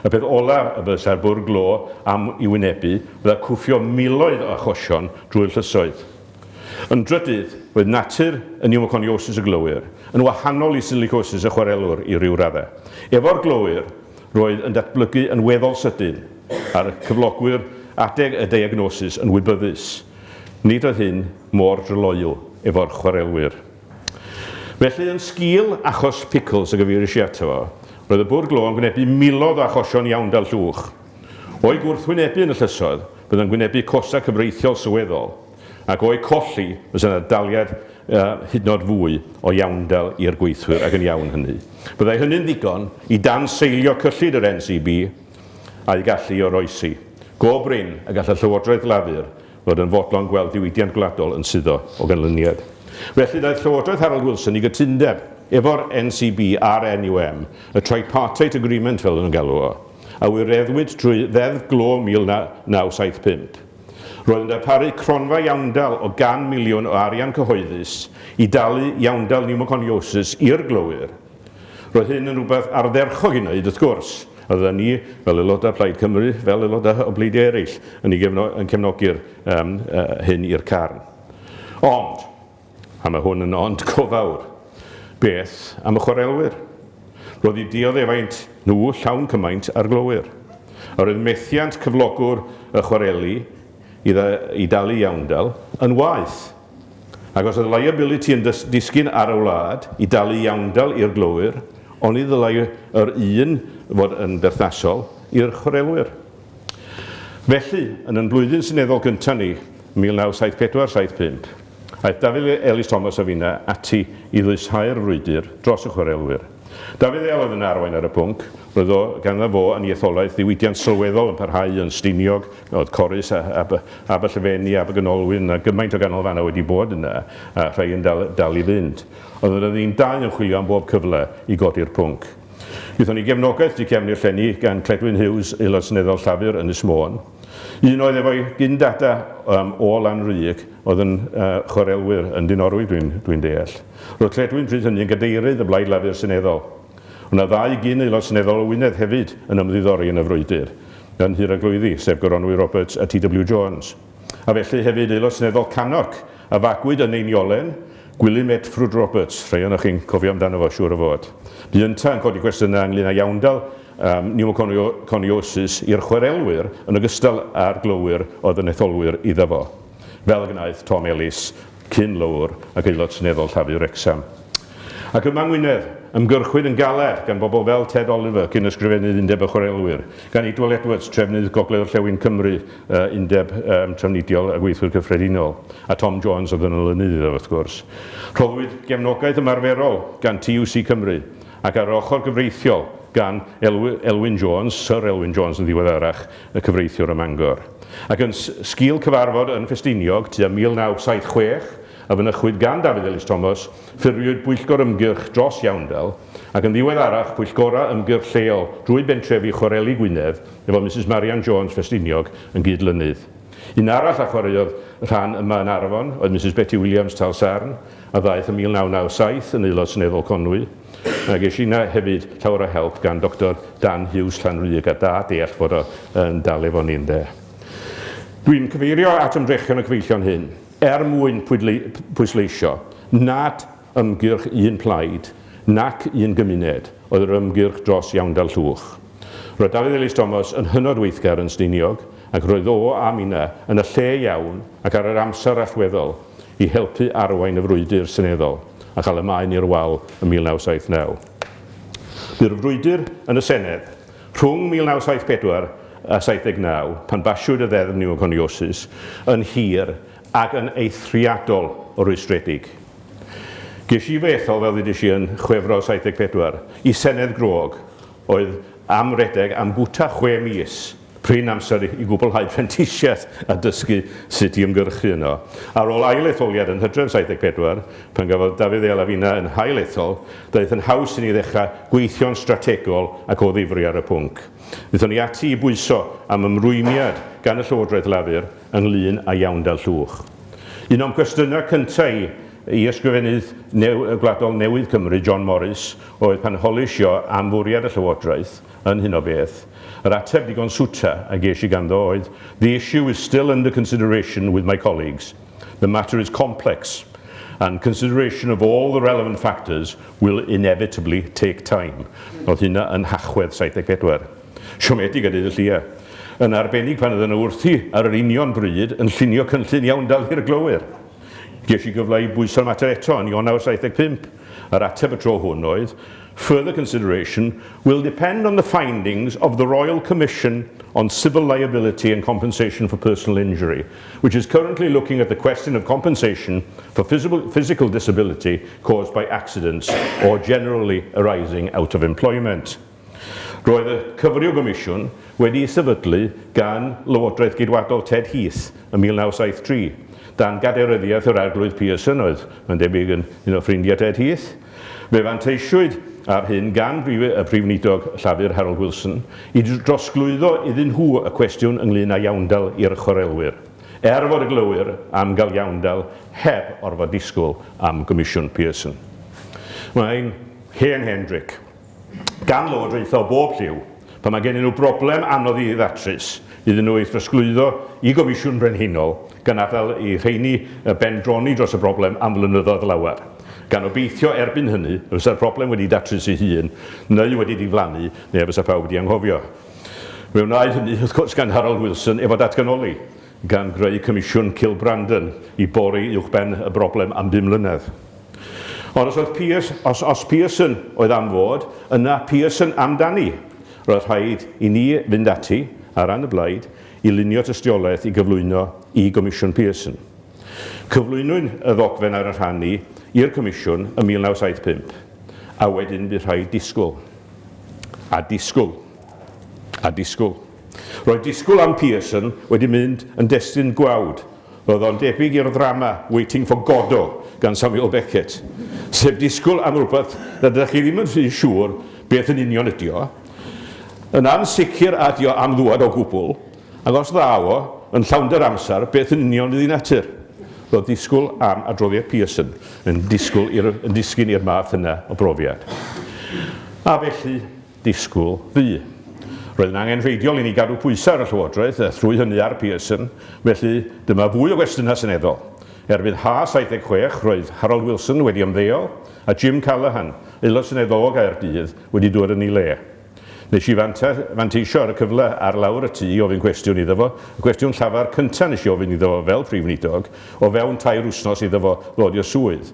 Y peth olaf y byddsai'r bwrdd glo am i wynebu fydda cwffio miloedd o achosion drwy'r llysoedd. Yn drydydd, oedd natur y pneumoconiosis y glowyr yn wahanol i silicosis y chwarelwr i ryw raddau. Efo'r glowyr, Roedd yn datblygu yn weddol sydyn, a'r cyflogwyr adeg y diagnosis yn wybyddus. Nid oedd hyn mor dryloyw efo'r chwarelwyr. Felly, yn sgil achos Pickles y gyfeiries i ato fo, roedd y bwrdd glo yn gwynebu miloedd o achosion iawndal llwch. O'i gwrthwynebu yn y llysoedd, bydd yn gwynebu costau cyfreithiol sylweddol. ac o'u colli fysa 'na daliad hydnod fwy o iawndal i'r gweithwyr ac yn iawn hynny. Byddai hynny'n ddigon i danseilio cyllid yr NCB a'i gallu i oroesi. Go brin y gall y Llywodraeth Lafur fod yn fodlon gweld diwydiant gwladol yn suddo o ganlyniad. Felly ddaeth Llywodraeth Harold Wilson i gytundeb efo'r NCB a'r NUM, y Tripartite Agreement fel o'n nhw'n galw o, a wireddwyd trwy Ddeddf Glo 1975. Roedd yn darparu cronfa iawndal o gan miliwn o arian cyhoeddus i dalu iawndal niwmoconiosis i'r glowyr. Roedd hyn yn rhywbeth ardderchog i wneud, wrth gwrs, a fyddan ni, fel aelodau Plaid Cymru, fel aelodau o bleidiau eraill, yn ei gefno- yn cefnogi'r yym yy hyn i'r carn. Ond, A mae hwn yn ond go fawr. Beth am y chwarelwyr? Roedd eu dioddefaint nhw llawn cymaint â'r glowyr. Yr oedd methiant cyflogwr y chwareli i dalu iawndal yn waeth. Ac os oedd liability yn disgyn ar y wlad i dalu iawndal i'r glowyr, oni ddylai yr un fod yn berthnasol i'r chwarelwyr? Felly, yn yn Blwyddyn Seneddol gyntaf ni, 1974, 75, aeth Dafydd Elis-Thomas a finna ati i ddwyshau'r frwydr dros y chwarelwyr. Dafydd El oedd yn arwain ar y pwnc, roedd o, ganddo fo yn ei etholaeth ddiwydiant sylweddol yn parhau yn Stiniog, oedd Corris a ab, ab y Llefeni, ab y Ganolwyn, a gymaint o ganolfannau wedi bod yna, a rhai yn dal, dal i fynd. Oedden nhw'n dau yn chwilio am bob cyfle i godi'r pwnc. Wnaethon ni gefnogaeth du cefn i'r llenni gan Cledwyn Hughes, Aelod Seneddol Llafur, Ynys Môn. Un oedd efo'i gyn-dada um, o Lanrug oedd yn uh, chwarelwyr yn Dinorwig dwi'n dwi deall. Roedd Cledwyn pryd hynny yn gadeirydd y Blaid Lafur Seneddol. Ond na ddau gyn aelod seneddol o Wynedd hefyd yn ymddiddori yn y frwydr yn Nhŷ'r Eglwyddi, sef Goronwy Roberts a TW Jones. a felly hefyd Aelod Seneddol Cannock, a fagwyd yn ei niolen, Gwilym Ed Ffrwd Roberts, rhai ohonoch chi'n cofio amdano fo, siŵr o fod. Bu yntau yn codi cwestiynau ynglŷn â iawndal um, niwmoconiosis i'r chwarelwyr yn ogystal â'r glowyr oedd yn etholwyr iddo fo, fel y gwnaeth Tom Ellis cyn löwr ac Aelod Seneddol Llafur Wrecsam. Ac yma yng Ngwynedd, ymgyrchwyd yn galed gan bobl fel Ted Oliver, cyn ysgrifennydd Undeb y Chwarelwyr, gan Edwell Edwards, trefnydd Gogledd-orllewin Cymru, Undeb Trafnidiol y Gweithwyr Cyffredinol, a Tom Jones oedd yn olynydd iddo, wrth gwrs. Rhoddwyd gefnogaeth ymarferol gan TUC Cymru, ac ar yr ochr gyfreithiol, gan Elwyn Jones, Syr Elwyn Jones yn ddiweddarach, y cyfreithiwr ym Mangor, ac yn sgil cyfarfod yn Ffestiniog tua 1976 a fynychwyd gan Dafydd Elis Thomas, ffurfiwyd Bwyllgor Ymgyrch dros Iawndal, ac yn ddiweddarach Pwyllgorau Ymgyrch Lleol drwy bentrefi Chwareli Gwynedd, efo Misus Marian Jones, Ffestiniog, yn gyd-lynydd. Un arall a chwaraeodd rhan yma yn Arfon oedd Misus Beti Williams, Tal Sarn, a ddaeth ym 1997 yn Aelod Seneddol Conwy. Mae ges i 'na hefyd llawer o help gan Doctor Dan Hughes Llanrug a da deall fod o yn dal efo ni ynde. Dwi'n cyfeirio at ymdrechion y cyfeillion hyn er mwyn pwysleisio nad ymgyrch un plaid nac un gymuned oedd yr ymgyrch dros iawndal Llwch. Roedd Dafydd Elis Thomas yn hynod weithgar yn Stiniog ac roedd o a Mina yn y lle iawn ac ar yr amser allweddol i helpu arwain y frwydr seneddol a chael y maen i'r wal ym 1979. Bu'r frwydr yn y Senedd rhwng 1974 a 79, pan basiwyd y Ddeddf Niwmoconiosis, yn hir ac yn eithriadol o rwystredig. Ges i fy ethol, fel ddudis i, yn Chwefror 74, i Senedd grog, oedd am redeg am gwta chwe mis. prin amser i gwblhau prentisiaeth a dysgu sut i ymgyrchu yno. Ar ôl ail-etholiad yn Hydref 74, pan gafodd Dafydd ei Alafina yn hail ethol, daeth yn haws i ni ddechrau gweithio'n strategol ac o ddifri ar y pwnc. Dethon ni ati i bwyso am ymrwymiad gan y Llywodraeth Lafur ynglŷn â iawndal llwch. Un o'm cwestiynau cynta' i i Ysgrifennydd Gwladol newydd Cymru, John Morris, oedd pan holish i o am fwriad y Llywodraeth yn hyn o beth. Yr ateb digon swta a ges i ganddo oedd, The issue is still under consideration with my colleagues. The matter is complex and consideration of all the relevant factors will inevitably take time. Oedd hynna yn Nhachwedd 74. Siomedig a deud y llia. Yn arbennig pan oedden nhw wrthi ar yr union bryd yn llunio cynllun iawn dal hir glowyr. Ges i gyfle i bwyso'r mater eto yn Ionawr 75. Yr ateb y tro hwn oedd, Further consideration will depend on the findings of the Royal Commission on Civil Liability and Compensation for Personal Injury, which is currently looking at the question of compensation for physical, physical disability caused by accidents or generally arising out of employment. Roedd y cyfryw gomisiwn wedi ei sefydlu gan Lywodraeth Geidwadol Ted Heath ym 1973, dan gadeiryddiaeth yr Arglwydd Pearson oedd, mae'n debyg, yn un o ffrindiau Ted Heath, Fe fanteisiwyd ar hyn gan y Prif Weinidog Llafur Harold Wilson i drosglwyddo iddyn nhw y cwestiwn ynglŷn â iawndal i'r chwarelwyr, er fod y glowyr am gael iawndal heb orfod disgwyl am Gomisiwn Pearson. Mae'n hen hen dric. gan lywodraethau o bob lliw, pan mae gennyn nhw broblem anodd i ddatrys, iddyn nhw ei throsglwyddo i Gomisiwn Brenhinol, gan adael i rheini y ben droni dros y broblem am flynyddoedd lawer, gan obeithio erbyn hynny y bysa'r broblem wedi datrys ei hun, neu wedi diflannu, neu a fysa pawb wedi anghofio. Fe wnaed hynny, wrth gwrs, gan Harold Wilson efo datganoli. gan greu Comisiwn Kilbrandon i bori uwchben y broblem am bum mlynedd. Ond os oedd Pearse, os, os Pearson oedd am fod, yna Pearson amdani! Roedd rhaid i ni fynd ati, ar ran y blaid, i lunio tystiolaeth i gyflwyno i Gomisiwn Pearson. Cyflwynwyn y ddogfen ar 'y rhan ni i'r Comisiwn ym 1975, a wedyn bu rhaid disgwyl, a disgwyl, a disgwyl. Roedd disgwyl am Pearson wedi mynd yn destun gwawd, roedd o'n debyg i'r ddrama Waiting for Godot gan Samuel Beckett, sef disgwyl am rywbeth rydych chi ddim yn rhy siŵr beth yn union ydy o, yn ansicr a ydy o am ddŵad o gwbl, ac os ddaw o, yn llawnder amser, beth yn union ydy natur? Roedd disgwyl am adroddiad Pearson yn disgwyl i'r, yn disgyn i'r math yna o brofiad. A felly, disgwyl fu. Roedd yn angenrheidiol i ni gadw pwysau ar y Llywodraeth, a thrwy hynny ar Pearson, felly dyma fwy o gwestiynau seneddol. Erbyn Ha 76, roedd Harold Wilson wedi ymddeol, a Jim Callaghan, Aelod Seneddol o Gaerdydd, wedi dŵad yn ei le. Nes i fanteisio ar y cyfle ar lawr y tŷ i ofyn cwestiwn iddo fo, y cwestiwn llafar cynta' nes i ofyn iddo fo fel Prif Weinidog, o fewn tair wsnos iddo fo ddod i'r swydd.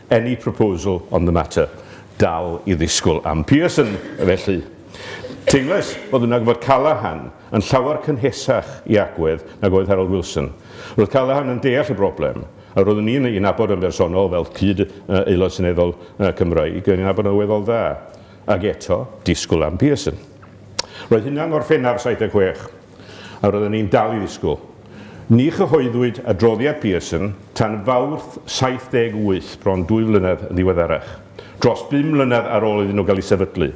Any proposal on the matter? Dal i ddisgwyl am Pearson, felly. Teimlais fod yna fod Callaghan yn llawer cynhesach i agwedd nag oedd Harold Wilson. Roedd Callaghan yn deall y broblem, a roeddwn i'n ei nabod yn bersonol fel cyd Aelod Seneddol Cymraeg, roeddwn i'n nabod yn weddol dda. Ac eto, disgwyl am Pearson. Roedd hynna yn Ngorffennaf 76. a roeddwn i'n dal i ddisgwyl. Ni chyhoeddwyd adroddiad Pearson tan Fawrth 78, bron dwy flynedd yn ddiweddarach, dros bum mlynedd ar ôl iddyn nhw gael eu sefydlu.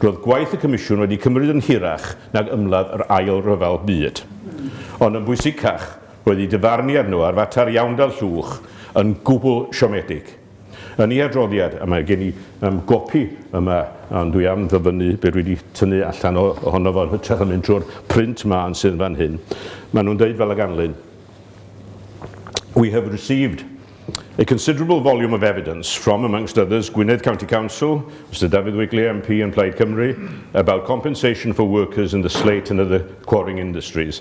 Roedd gwaith y Comisiwn wedi cymryd yn hirach nag ymladd yr Ail Ryfel Byd. Ond yn bwysicach, roedd eu dyfarniad nhw ar fater iawndal llwch yn gwbl siomedig. Yn ei adroddiad, a mae gen i um, gopi yma, ond dwi am ddyfynnu be dwi wedi tynnu allan o, ohono fo yn hytrach yn mynd trwy'r print mân sydd fan hyn, maen nhw'n dweud fel y ganlyn, We have received A considerable volume of evidence from, amongst others, Gwynedd County Council, Mr Dafydd Wigley MP and Plaid Cymru, about compensation for workers in the slate and other quarrying industries.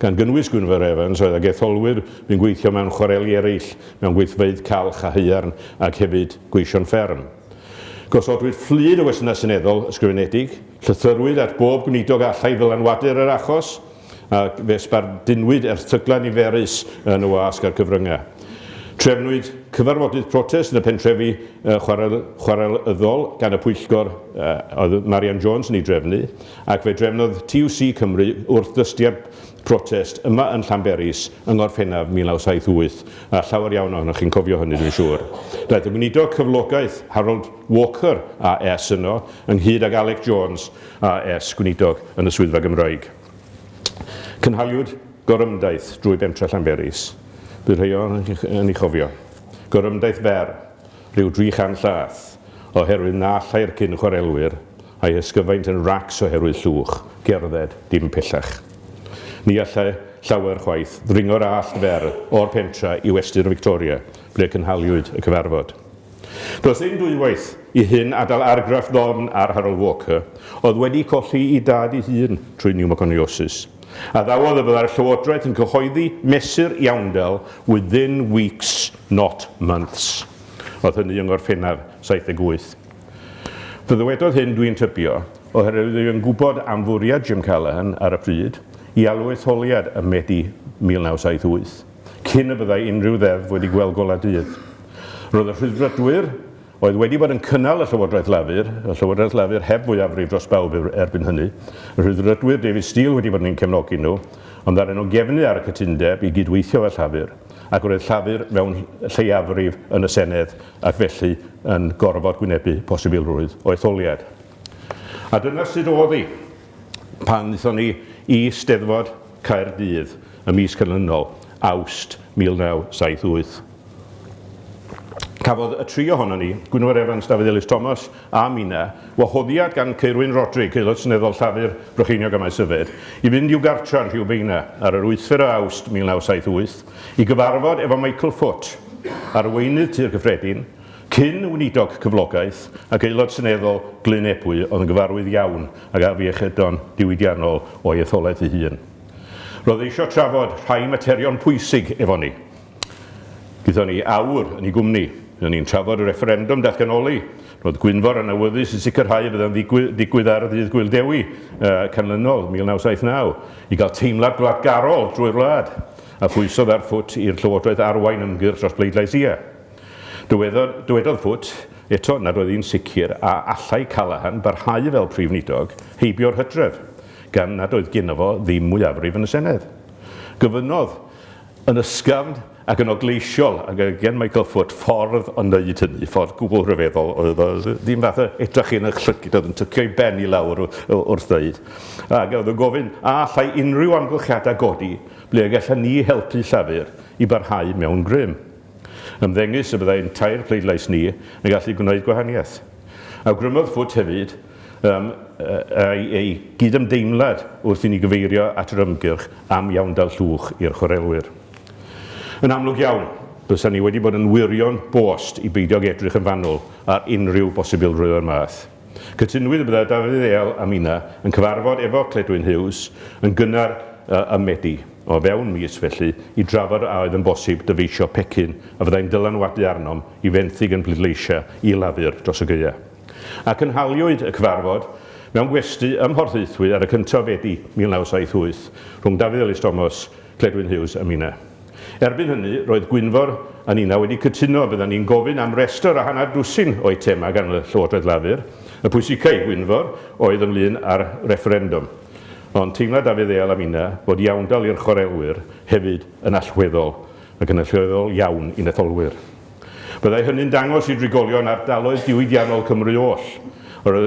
gan gynnwys Gwynfor Evans oedd ag etholwyr fu'n gweithio mewn chwareli eraill, mewn gweithfeydd calch a haearn ac hefyd gweision fferm. Gosodwyd fflyd o westynnau seneddol ysgrifenedig, llythyrwyd at bob gwneidog a allai ddylanwadu'r yr achos ac fe sbardunwyd erthyglau niferus yn y wasg a'r cyfryngau. Trefnwyd cyfarfodydd protest yn y pentrefi chwarel, chwarelyddol gan y pwyllgor oedd Marian Jones yn ei drefnu. Ac fe drefnodd TUC Cymru wrthdystiad protest yma yn Llanberis yng Ngorffennaf 1978, a llawer iawn ohonoch chi'n cofio hynny dwi'n siŵr. Daeth y Weinidog Cyflogaeth, Harold Walker AS yno, ynghyd ag Alec Jones AS, Gweinidog yn y Swyddfa Gymraeg. Cynhaliwyd gorymdaith drwy bentre Llanberis. Bydd rhei ohonoch chi'n ei chofio. Gorymdaith fer. rhyw dri chan llath, oherwydd na allai'r cyn-chwarelwyr a'i hysgyfaint yn racs oherwydd llwch gerdded dim pellach. Ni allai llawer chwaith ddringo'r allt fer o'r pentra i westy'r Victoria, ble cynhaliwyd y cyfarfod. Does dim dwywaith i hyn adal argraff ddofn ar Harold Walker, oedd wedi colli'i dad ei hun trwy niwmoconiosis. Addawodd y byddai'r llywodraeth yn cyhoeddi mesur iawndal within weeks not months, oedd hynny yng Ngorffennaf 78. Fe ddywedodd hyn, dwi'n tybio, oherwydd oedd yn gwybod am fwriad Jim Callaghan ar y pryd i alw etholiad ym Medi 1978, cyn y byddai unrhyw ddeddf wedi gweld golau dydd. Roedd y Rhyddfrydwyr, oedd wedi bod yn cynnal y Llywodraeth Lafur, y Llywodraeth Lafur heb fwyafrif dros bawb erbyn hynny, y Rhyddfrydwyr, David Steel wedi bod yn ein cefnogi nhw, ond ddaru nhw gefnu ar y cytundeb i gyd-weithio efo Llafur. ac roedd Llafur mewn lleiafrif yn y Senedd ac felly yn gorfod gwynebu posibilrwydd o etholiad. A dyna sut oedd hi pan wnaethon ni i Steddfod Caerdydd y mis canlynol, Awst 1978. Cafodd y tri ohonon ni, Gwynfor Evans, Dafydd Elis Thomas a mynna, wahoddiad gan Ceirwyn Rodrig, Aelod Seneddol Llafur, Brycheiniog a Maes-y-Fedd, i fynd i'w gartra yn Rhiwbeina ar yr wythfed o Awst 1978 i gyfarfod efo Michael Foot, arweinydd Tŷ'r Cyffredin, cyn Weinidog Cyflogaeth ac Aelod Seneddol Glyn Ebwy oedd yn gyfarwydd iawn ag afiechydon diwydiannol o'i etholaeth ei hun. Roedd e eisiau trafod rhai materion pwysig efo ni. Gyda ni aur yn ei gwmni, ry'n ni'n trafod y refferendwm datganoli. Roedd Gwynfor yn awyddus i sicrhau y byddai'n ddigwydd ar ddydd Gŵyl Dewi canlynol, 1979, i gael teimlad gwladgarol drwy'r wlad, a phwysodd ar Foot i'r Llywodraeth arwain ymgyrch dros bleidlais ie. Dywedodd, dywedodd Foot eto nad oedd hi'n sicr a allai Callaghan barhau fel Prif Wlidog heibio'r hydref, gan nad oedd geno fo ddim mwyafrif yn y Senedd. Gofynnodd Yn ysgafn ac yn ogleisiol, ac gen Michael Foot ffordd o wneud hynny, ffordd gwbl rhyfeddol oedd o, ddim fath o edrach yn y llygid, oedd yn tycio ei ben i lawr wrth ddeud, ac oedd yn gofyn a allai unrhyw amgylchiadau godi ble y gallen ni helpu Llafur i barhau mewn grym. Ymddengys y byddai ein tair pleidlais ni yn gallu gwneud gwahaniaeth. Awgrymodd Foot hefyd Ym mae ei gyd-ymdeimlad wrth i ni gyfeirio at yr ymgyrch am iawndal llwch i'r chwarelwyr. Yn amlwg iawn, bysa ni wedi bod yn wyrion bost i beidio ag edrych yn fanwl ar unrhyw bosibilrwydd o'r math. Cytunwyd y bydda Dafydd Eal a Mina yn cyfarfod efo Cledwyn Hughes yn gynnar ym Medi, o fewn mis felly, i drafod a oedd yn bosib dyfeisio pecyn a fyddai'n dylanwadu arnom i fenthyg yn bleidleisia i Lafur dros y gaeau. a cynhaliwyd y cyfarfod mewn gwesty ym Mhorthaethwy ar y cyntaf o Fedi 1978 rhwng Dafydd Elis Thomas, Cledwyn Hughes a Mina. Erbyn hynny, roedd Gwynfor a Nina wedi cytuno byddan ni'n gofyn am restr a hanner dwsin o eitemau gan y Llywodraeth Lafur. Y pwysica i Gwynfor oedd ynglŷn â'r refferendwm. Ond teimla Dafydd Eal a Mina fod iawndal i'r chwarelwyr hefyd yn allweddol, ac yn allweddol iawn i'n etholwyr. Byddai hynny'n dangos i drigolion ardaloedd diwydiannol Cymru oll yr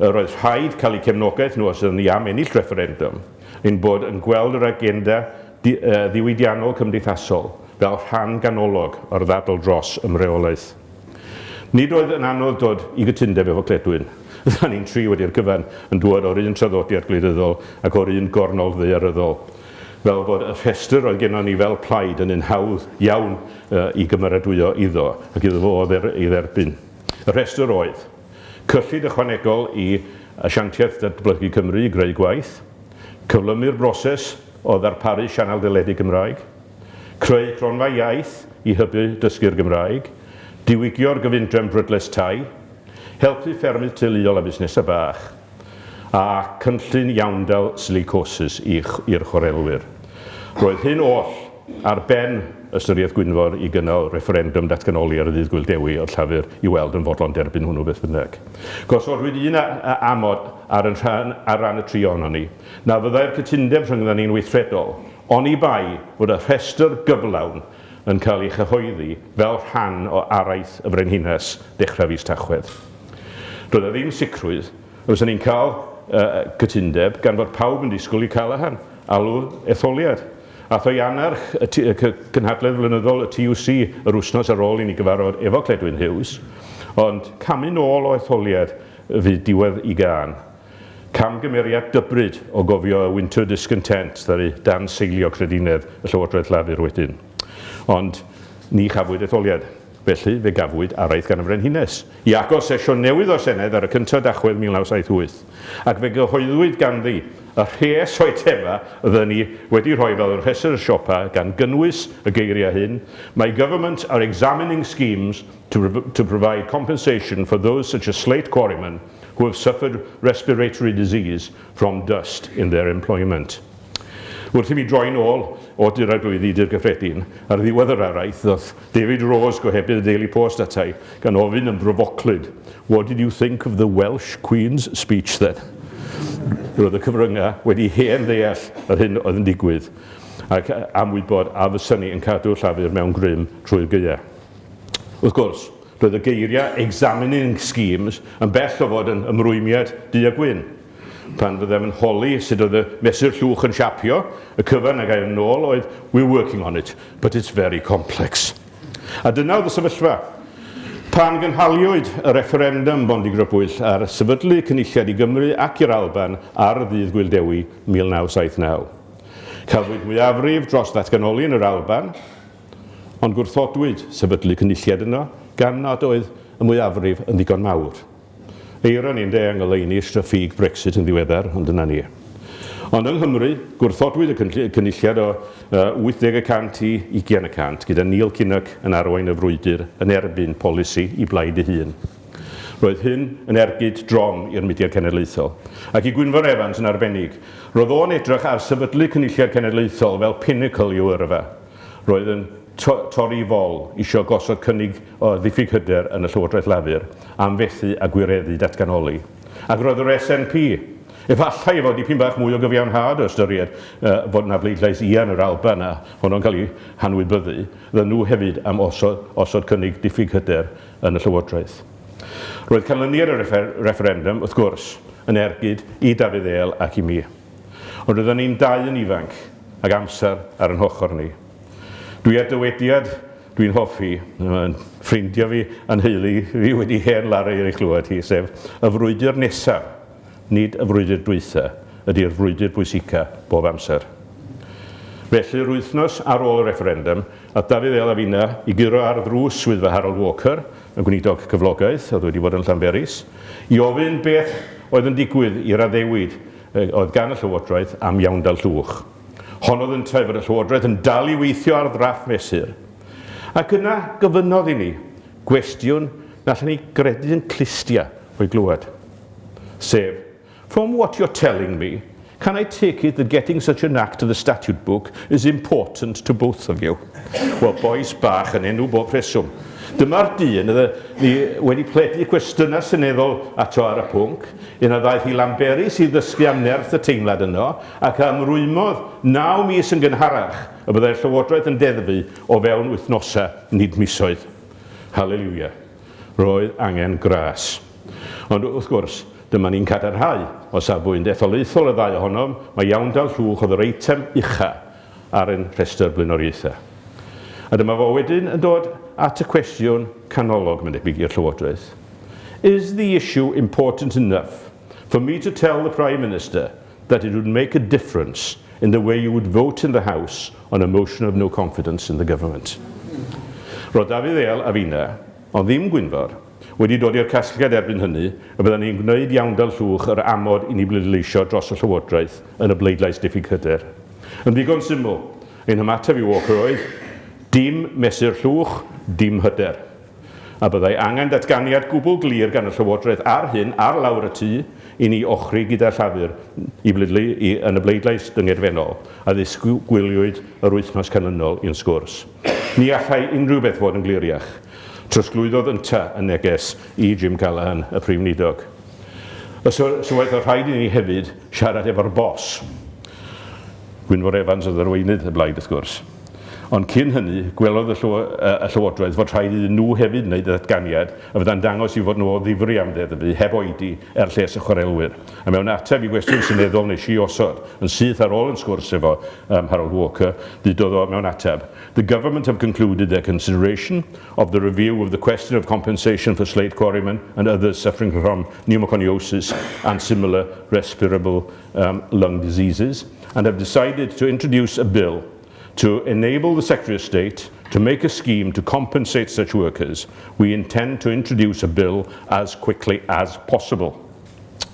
oedd rhaid cael eu cefnogaeth nhw os ydyn ni am ennill refferendwm, ein bod yn gweld yr agenda ddiwydiannol cymdeithasol fel rhan ganolog o'r ddadl dros ymreolaeth. Nid oedd yn anodd dod i gytundeb efo Cledwyn. Rydan ni'n tri wedi'r cyfan yn dŵad o'r un traddodiad gwleidyddol ac o'r un gornol ddaearyddol. fel bod y rhestr oedd gennon ni fel plaid yn un hawdd iawn i gymeradwyo iddo ac iddo fo ei dderbyn. Y rhestr oedd, cyllid ychwanegol i Asiantaeth Datblygu Cymru i greu gwaith, cyflymu'r broses o ddarparu sianel deledu Gymraeg, creu cronfa iaith i hybu dysgu'r Gymraeg, diwygio'r gyfundrefn brydles tai, helpu ffermydd teuluol a busnesau bach. a chynllun iawndal silicosis i'r chwarelwyr. Roedd hyn oll ar ben ystyriaeth Gwynfor i gynnal refferendwm datganoli ar Ddydd Gŵyl Dewi oedd Llafur i weld yn fodlon derbyn hwnnw beth bynnag. Gosodwyd un amod ar yn rhan ar ran y tri ohonon ni, na fyddai'r cytundeb rhyngddon ni'n weithredol oni bai fod y rhestr gyflawn yn cael ei chyhoeddi fel rhan o araith y Frenhines dechrau fis Tachwedd. Doedd 'na ddim sicrwydd y bysa ni'n cael cytundeb gan fod pawb yn disgwyl i Callaghan alw etholiad. Ath o i annerch y cynhadledd flynyddol y TUC yr wsnos ar ôl i ni gyfarfod efo Cledwyn Hughes, ond camu nôl o etholiad fydd diwedd i gân. Camgymeriad dybryd o gofio y Winter Discontent ddaru danseilio credinedd y Llywodraeth Lafur wedyn. Ond ni chafwyd etholiad. Felly, fe gafwyd araith gan y Frenhines, i agor sesiwn newydd o'r Senedd ar y cyntaf Dachwedd 1978, ac fe gyhoeddwyd ganddi y rhes o'i thema fydden ni wedi rhoi fel rhestr y siopa, gan gynnwys y geiriau hyn, My government are examining schemes to to provide compensation for those such as slate quarrymen, who have suffered respiratory disease from dust in their employment. Wrth i mi droi'n ôl o Dur Arglwyddi i Dŷ'r Gyffredin, ar ddiwedd yr araith ddoth David Rose, gohebydd y Daily Post atai, gan ofyn yn brofoclyd, What did you think of the Welsh Queen's speech then? Roedd y cyfryngau wedi hen ddeall yr hyn oedd yn digwydd ac am wybod a fysa ni yn cadw Llafur mewn grym trwy'r gaeau. Wrth gwrs, Roedd y geiriau 'examining schemes' yn bell o fod yn ymrwymiad du a gwyn. Pan fyddem yn holi sut oedd y mesur llwch yn siapio, y cyfan a gair yn ôl oedd 'We're working on it, but it's very complex'. A dyna oedd y sefyllfa. Pan gynhaliwyd y refferendwm bondigrybwyll ar sefydlu Cynulliad i Gymru ac i'r Alban ar Ddydd Gŵyl Dewi 1979, cafwyd mwyafrif dros ddatganoli yn yr Alban, Ond gwrthodwyd sefydlu cynulliad yno gan nad oedd y mwyafrif yn ddigon mawr. Eironi ynde, a ngoleuni straffíg Brexit yn ddiweddar, ond dyna ni. Ond yng Nghymru, gwrthodwyd y cynulliad o 80 y cant i ugian y cant, gyda Neil Kinnock yn arwain y frwydr yn erbyn polisi i blaid ei hun. Roedd hyn yn ergyd drom i'r mudiad cenedlaethol, ac i Gwynfor Evans yn arbennig. Roedd o'n edrych ar sefydlu cynulliad cenedlaethol fel pinnacle i'w yrfa. Roedd yn to- torri fol, isio gosod cynnig o ddiffyg hyder yn y Llywodraeth Lafur am fethu â gwireddu datganoli. Ac roedd yr SNP, efallai efo dipyn bach mwy o gyfiawnhad o ystyried yy fod 'na bleidlais ia yn yr Alban a honno'n cael ei hanwybyddu, fyddan nhw hefyd am osod osod cynnig diffyg hyder yn y Llywodraeth. Roedd canlyniad y reffer- refferendum, wrth gwrs, yn ergyd i Dafydd Êl ac i mi. Ond rydan ni'n dau yn ifanc ac amser ar yn hochr ni. Dwi a dywediad dwi'n hoffi. Mae ffrindiau fi a'n nheulu fi wedi hen laru ei chlywed hi, sef, Y frwydr nesaf, nid y frwydr dwytha, ydi'r frwydr bwysica bob amser. Felly, yr wythnos ar ôl y refferendum, ath Dafydd El a finna i guro ar ddrws swyddfa Harold Walker, y gweinidog cyflogaeth oedd wedi bod yn Llanberis i ofyn beth oedd yn digwydd i'r addewid oedd gan y Llywodraeth am iawndal Llwch. Honnodd yntau fod y Llywodraeth yn dal i weithio ar ddrafft mesur. Ac yna gofynnodd i ni gwestiwn na allen ni gredu yn clustia o'i glywed, sef, From what you're telling me, can I take it that getting such an act to the statute book is important to both of you? Wel, bois bach yn enw bob rheswm. Dyma'r dyn y ni wedi pledu cwestiynau seneddol ato ar y pwnc, yna ddaeth i Lanberis i ddysgu am nerth y teimlad yno, ac a ymrwymodd naw mis yn gynharach y byddai'r Llywodraeth yn deddfu o fewn wythnosau, nid misoedd. Hallelujah. Roedd angen gras. Ond, wrth gwrs, dyma ni'n cadarnhau, o safbwynt etholaethol y ddau ohonom, mai iawndal llwch oedd yr eitem ucha' ar ein rhestr blaenoriaethau. A dyma fo wedyn yn dod at y cwestiwn canolog, mae'n debyg, i'r Llywodraeth. Is the issue important enough for me to tell the Prime Minister that it would make a difference in the way you would vote in the House on a motion of no confidence in the government. Roedd Dafydd Eal a finna, ond ddim Gwynfor, wedi dod i'r casgliad erbyn hynny y byddan ni'n gwneud iawn fel llwch yr amod i ni bleidleisio dros y Llywodraeth yn y bleidlais diffyg hyder. Yn ddigon syml, ein hymateb i Walker oedd, dim mesur llwch, dim hyder. a byddai angen datganiad gwbl glir gan y Llywodraeth ar hyn ar lawr y tu i ni ochri gyda Llafur i blydlu i yn y bleidlais dyngedfennol a ddisgwyliwyd yr wythnos canlynol i'n sgwrs. Ni allai unrhyw beth fod yn gliriach, trosglwyddodd ynta y neges i Jim Callaghan, y Prif Weinidog. Y sylwaeth fod rhaid i ni hefyd siarad efo'r Boss. Gwynfor Evans oedd arweinydd y blaid wrth gwrs. Ond cyn hynny, gwelodd y Llywodraeth fod rhaid iddyn nhw hefyd wneud datganiad a fyddai'n dangos eu fod nhw o ddifri am ddeddfu heb oedi er lles y chwarelwyr. A mewn ateb i gwestiwn seneddol nes i osod yn syth ar ôl yn sgwrs efo um, Harold Walker, ddudodd o mewn ateb, The Government have concluded their consideration of the review of the question of compensation for slate quarrymen and others suffering from pneumoconiosis and similar respirable um, lung diseases, and have decided to introduce a bill to enable the Secretary of State to make a scheme to compensate such workers. We intend to introduce a bill as quickly as possible.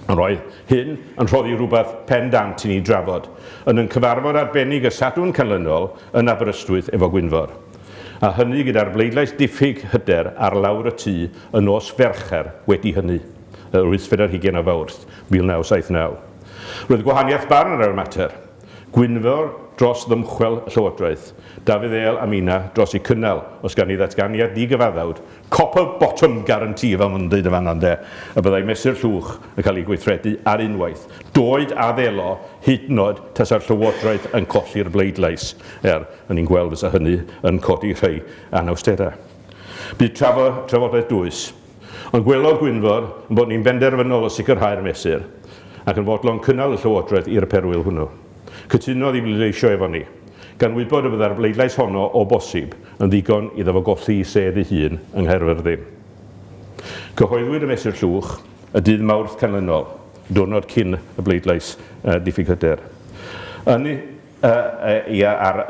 Yr oedd hyn yn rhoddi rhywbeth pendant i ni drafod yn yn cyfarfod arbennig y Sadwn Canlynol yn Aberystwyth efo Gwynfor. A hynny gyda'r bleidlais diffyg hyder ar lawr y tŷ yn nos Fercher wedi hynny. y Rhwystr ar hugain o Fawrth 1979. Roedd gwahaniaeth barn ar y mater, Gwynfor dros ddymchwel y Llywodraeth, Dafydd Eal a Mina dros eu cynnal, os gan ni ddatganiad digyfaddawd, copper bottom guarantee fel mae'n dweud yn fan'na ynde, y byddai mesur llwch yn cael ei gweithredu ar unwaith, doed a ddelo, hyd yn oed tasa'r Llywodraeth yn colli'r bleidlais, er o'n i'n gweld fysa hynny yn codi rhai anawsterau. Bu trafodaeth dwys. Ond gwelodd Gwynfor ein bod ni'n benderfynol o sicrhau'r mesur, ac yn fodlon cynnal y llywodraeth i'r perwyl hwnnw. Cytunodd i bleidleisio efo ni, gan wybod y byddai'r bleidlais honno, o bosib, yn ddigon iddo fo golli'i sedd ei hun yng Nghaerfyrddin. Cyhoeddwyd y mesur llwch y dydd Mawrth canlynol, diwrnod cyn y bleidlais diffyg hyder. Yn Yy, ia, ar,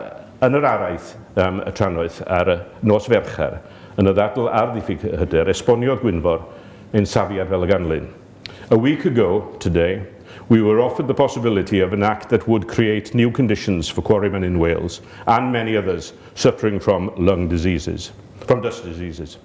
yn yr araith am y trannoeth ar y nos Fercher, yn y ddadl ar ddiffyg hyder, esboniodd Gwynfor ein safiad fel y ganlyn, A week ago today, we were offered the possibility of an Act that would create new conditions for quarrymen in Wales and many others suffering from lung diseases, from dust diseases.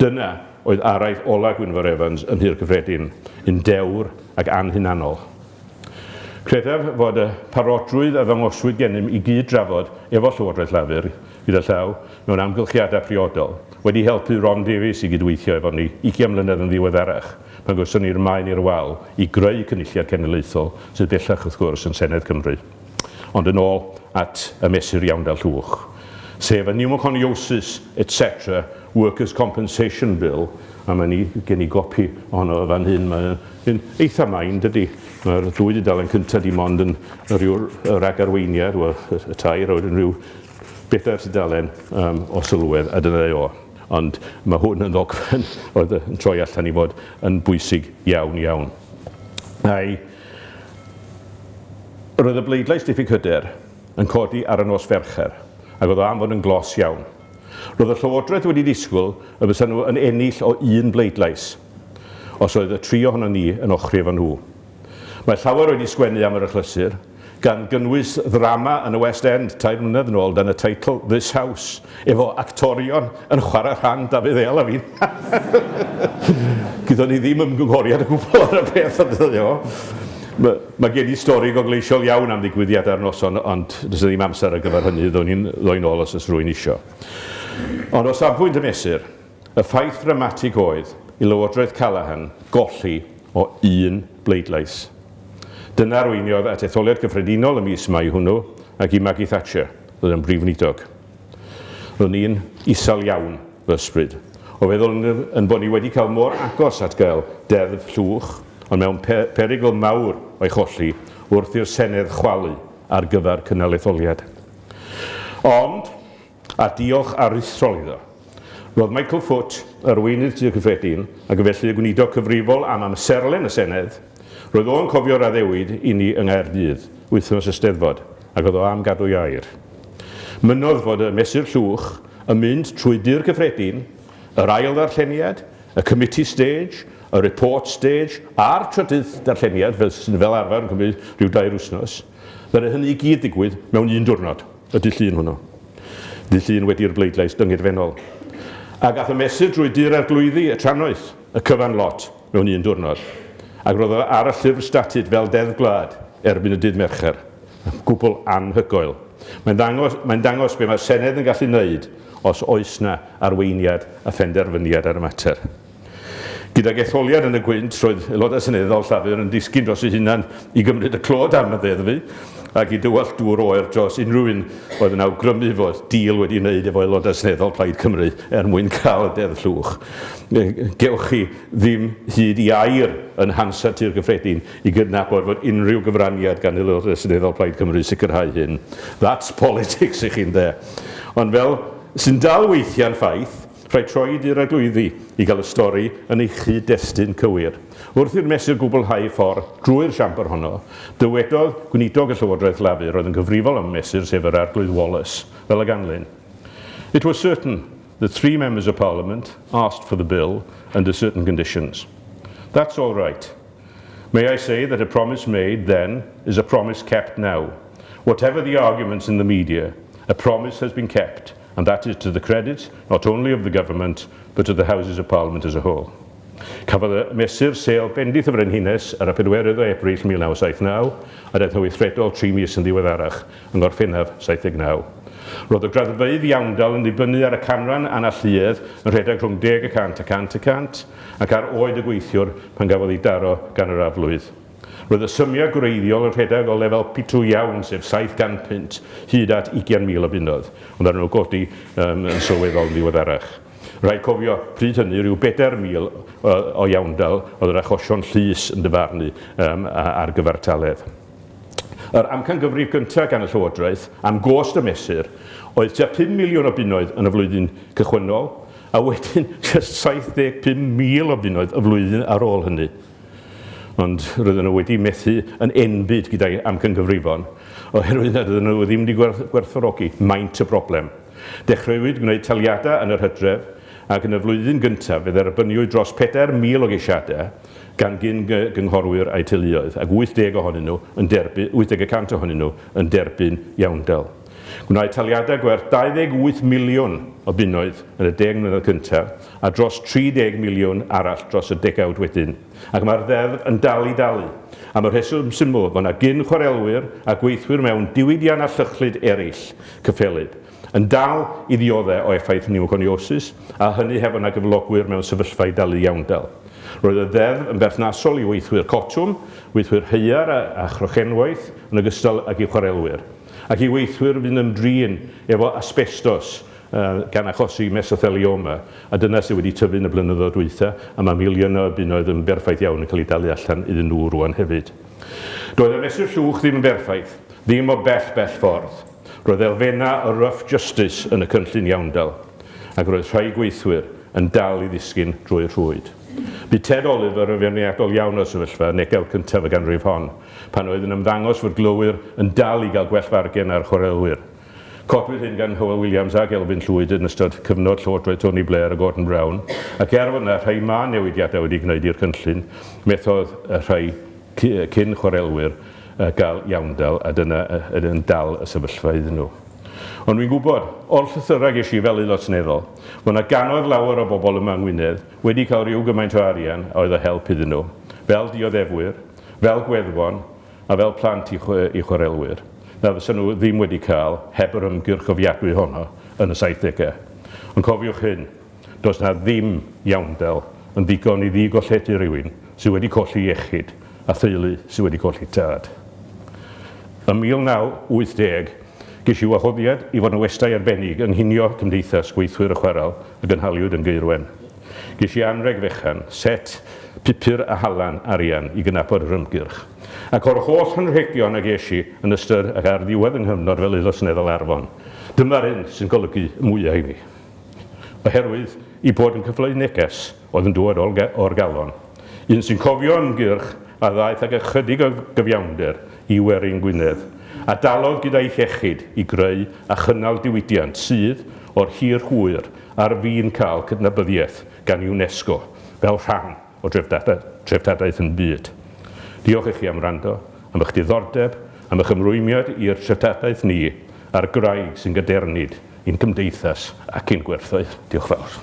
Dyna oedd araith ola' Gwynfor Evans yn Nhŷ'r Cyffredin, un dewr ac anhunanol. Credaf fod y parodrwydd a ddangoswyd gennym i gyd-drafod efo Llywodraeth Llafur, gyda llaw, mewn amgylchiadau priodol, wedi helpu Ron Davies i gydweithio efo ni ugian mlynedd yn ddiweddarach, pan gawson ni'r maen i'r wal i greu Cynulliad Cenedlaethol, sydd bellach, wrth gwrs, yn Senedd Cymru. Ond yn ôl at y mesur iawn da llwch, sef y Pneumoconiosis etc Workers Compensation Bill, a mae ni, gen i gopi ohono fo fan hyn, mae'n eitha main dydy, mae'r dwy dudalen cyntaf di mond yn rhyw ragarweiniad, wel y tair, a wedyn rhyw bedair tudalen um, o sylwedd, a dyna o. Ond mae hwn yn ddogfen oedd yn troi allan i fod yn bwysig iawn iawn. A'i Roedd y bleidlais diffyg hyder yn codi ar y nos Fercher, ac oedd o am fod yn glos iawn. Roedd y Llywodraeth wedi disgwyl y bysa nhw yn ennill o un bleidlais, os oedd y tri ohonon ni yn ochri efo nhw. Mae llawer wedi sgwennu am yr achlysur, gan gynnwys ddrama yn y West End tair mlynedd yn ôl dan y teitl This House, efo actorion yn chwarae rhan Dafydd Eal a fi. Gyda ni ddim ymgynghoriad o gwbl ar y peth, ond dyna fo. Mae, mae gen i stori gogleisiol iawn am ddigwyddiad ar noson, ond does yna ddim amser ar gyfer hynny, ddown ni'n ddoi nôl os oes rwy'n isio. Ond o safbwynt y mesur, Y ffaith ddramatig oedd i Lywodraeth Callaghan golli o un bleidlais. Dyna arweiniodd at etholiad gyffredinol y mis Mai hwnnw ac i Maggie Thatcher ddod yn Brif Weinidog. Ro'n i'n isel iawn fy ysbryd o feddwl yn bod ni wedi cael mor agos at gael deddf llwch ond mewn perygl mawr o'i cholli wrth i'r Senedd chwalu ar gyfer cynnal etholiad. Ond, a diolch aruthrol iddo. Roedd Michael Foot, Arweinydd Tŷ Cyffredin, ac yn felly y Gweinidog Cyfrifol am amserlen y Senedd, roedd o yn cofio'r addewid i ni yng Nghaerdydd, wythnos y Steddfod, ac oedd o am gadw'i air. Mynnodd fod y Mesur Llwch yn mynd trwy Dŷ'r Cyffredin, yr ail ddarlleniad, y Committee Stage, y Report Stage, a'r trydydd darlleniad, fel sy'n fel arfer yn cymryd rhyw dair wythnos, ddaru hynny i gyd ddigwydd mewn un diwrnod. Y dydd Llun hwnnw. Dydd Llun wedi'r bleidlais dyngirfennol. Ac a'th y mesur drwy Dŷ'r Arglwyddi, y Trannoeth, y cyfan lot, mewn un diwrnod. Ac roedd o ar y llyfr statud fel Deddf Gwlad erbyn y dydd Mercher. Gwbl anhygoel. Mae'n ddangos, mae'n dangos be mae'r Senedd yn gallu wneud os oes 'na arweiniad a phenderfyniad ar y mater. Gydag etholiad yn y gwynt, roedd Aelodau Seneddol Llafur yn disgyn dros eu hunain i gymryd y clod am y ddeddfu ac i dywallt dŵr oer dros unrhyw un oedd yn awgrymu fod deal wedi ei wneud efo Aelodau Seneddol Plaid Cymru er mwyn cael y Deddf Llwch. Gewch chi ddim hyd i air yn Hansard Tŷ'r Cyffredin i gydnabod fod unrhyw gyfraniad gan Aelodau Seneddol Plaid Cymru i sicrhau hyn. That's politics i chi, ynde? Ond fel sy'n dal weithiau'n ffaith, Rhaid troed i'r eglwyddi i gael y stori yn ei chyd-destun cywir. Wrth i'r mesur gwblhau ei ffordd drwy'r siambr honno, dywedodd Gweinidog y Llywodraeth Lafur oedd yn gyfrifol am y mesur sef yr Arglwydd Wallace, fel y ganlyn, It was certain that three Members of Parliament asked for the Bill under certain conditions. That's all right. May I say that a promise made then is a promise kept now. Whatever the arguments in the media, a promise has been kept. and that is to the credit not only of the Government but of the Houses of Parliament as a whole. Cafodd y mesur sêl bendith y Frenhines ar y pedwerydd o Ebrill 1979, a daeth yn weithredol tri mis yn ddiweddarach, yng Ngorffennaf 79. Roedd y graddfeydd iawndal yn dibynnu ar y canran analluedd yn rhedeg rhwng deg y cant a cant y cant, ac ar oed y gweithiwr pan gafodd ei daro gan yr aflwydd. Roedd y symiau gwreiddiol yn rhedeg o lefel pitw iawn, sef 700 punt, hyd at 20,000 o bunnoedd, ond ar nhw godi yn sylweddol yn ddiweddarach. Rhaid cofio, pryd hynny, rhyw bedair mil o iawndal oedd yr achosion llys yn dyfarnu ar gyfartaledd. Yr amcangyfrif gyntaf gan y Llywodraeth am gost y mesur oedd tua pum miliwn o bunnoedd yn y flwyddyn cychwynnol, a wedyn jyst 75,000 o bunnoedd y flwyddyn ar ôl hynny. ond roedden nhw wedi methu yn enbyd gyda'i amcangyfrifon oherwydd nad oedden nhw ddim wedi gwerthfawrogi maint y broblem. Dechreuwyd gwneud taliadau yn yr hydref ac yn y flwyddyn gyntaf fe dderbyniwyd dros 4,000 o geisiadau gan gyn-gynghorwyr a'u teuluoedd ac 80 ohonyn nhw yn derby- 80 y cant ohonyn nhw yn derbyn iawndal. Gwnaed taliadau gwerth 28 miliwn o bunnoedd yn y deg mlynedd cyntaf a dros 30 miliwn arall dros y degawd wedyn, ac mae'r Ddeddf yn dal i dalu, am y rheswm syml fod 'na gyn-chwarelwyr a gweithwyr mewn diwydiannau llychlyd eraill, cyffelyb, yn dal i ddioddef o effaith niwconiosis, a hynny heb fod 'na gyflogwyr mewn sefyllfa i dalu iawndal. Roedd y Ddeddf yn berthnasol i weithwyr cotwm, gweithwyr haear a chrochenwaith, yn ogystal ag i chwarelwyr. ac i weithwyr fy'n ymdrin efo asbestos gan achosi mesothelioma, a dyna sydd wedi tyfu yn y blynyddoedd dwytha, a mae miliynau o bunnoedd yn berffaith iawn yn cael eu dalu allan iddyn nhw rŵan hefyd. Doedd y mesur llwch ddim yn berffaith, ddim o bell bell ffordd. Roedd elfennau o rough justice yn y cynllun iawndal, ac roedd rhai gweithwyr yn dal i ddisgyn drwy'r rhwyd. Bu Ted Oliver yn feirniadol iawn o'r sefyllfa yn negawd cyntaf y ganrif hon, Pan oedd yn ymddangos fod glowyr yn dal i gael gwell fargen ar chwaraewyr. Codwyd hyn gan Hywel Williams ac Elfyn Llwyd yn ystod cyfnod llywodraeth Tony Blair a Gordon Brown, ac er fod yna rhai mân newidiadau wedi gwneud i'r cynllun, methodd rhai cyn chwarelwyr gael iawndal a dyna yn yn dal y sefyllfa iddyn nhw. Ond wi'n gwybod, o'r llythyrau ges i fel Aelod Seneddol, fod yna gannoedd lawer o bobl yma yng Ngwynedd wedi cael rhyw gymaint o arian a oedd o help iddyn nhw, fel dioddefwyr, fel gweddfon a fel plant i chwarelwyr na fysa nhw ddim wedi cael heb yr ymgyrch offiadwy honno yn y saithdegau. Ond cofiwch hyn, does 'na ddim iawndal yn ddigon i ddi-golledu rhywun sydd wedi colli iechyd a theulu sydd wedi colli tad. Ym 1980, ges i wahoddiad i fod yn westai arbennig yng nghinio Cymdeithas Gweithwyr y Chwarel a gynhaliwyd yn Gaerwen. Ges i anrheg fechan, set, pupur a halan arian i gydnabod yr ymgyrch. Ac o'r holl anrhegion a ges i yn ystod ac ar ddiwedd fy nghyfnod fel Aelod Seneddol Arfon, dyma'r un sy'n golygu y mwya' i mi. Oherwydd ei bod yn cyfleu neges, oedd yn dŵad o'r galon. Un sy'n cofio ymgyrch a ddaeth ag ychydig o gyfiawnder i werin Gwynedd, a dalodd gyda'i hiechyd i greu a chynnal diwydiant sydd, o'r hir hwyr, ar fin cael cydnabyddiaeth gan UNESCO fel rhan o dreftadaeth yn byd. Diolch i chi am wrando, am eich diddordeb, am eich ymrwymiad i'r treftadaeth ni, a'r gwraig sy'n gadernid i'n cymdeithas ac i'n gwerthoedd. Diolch fawr.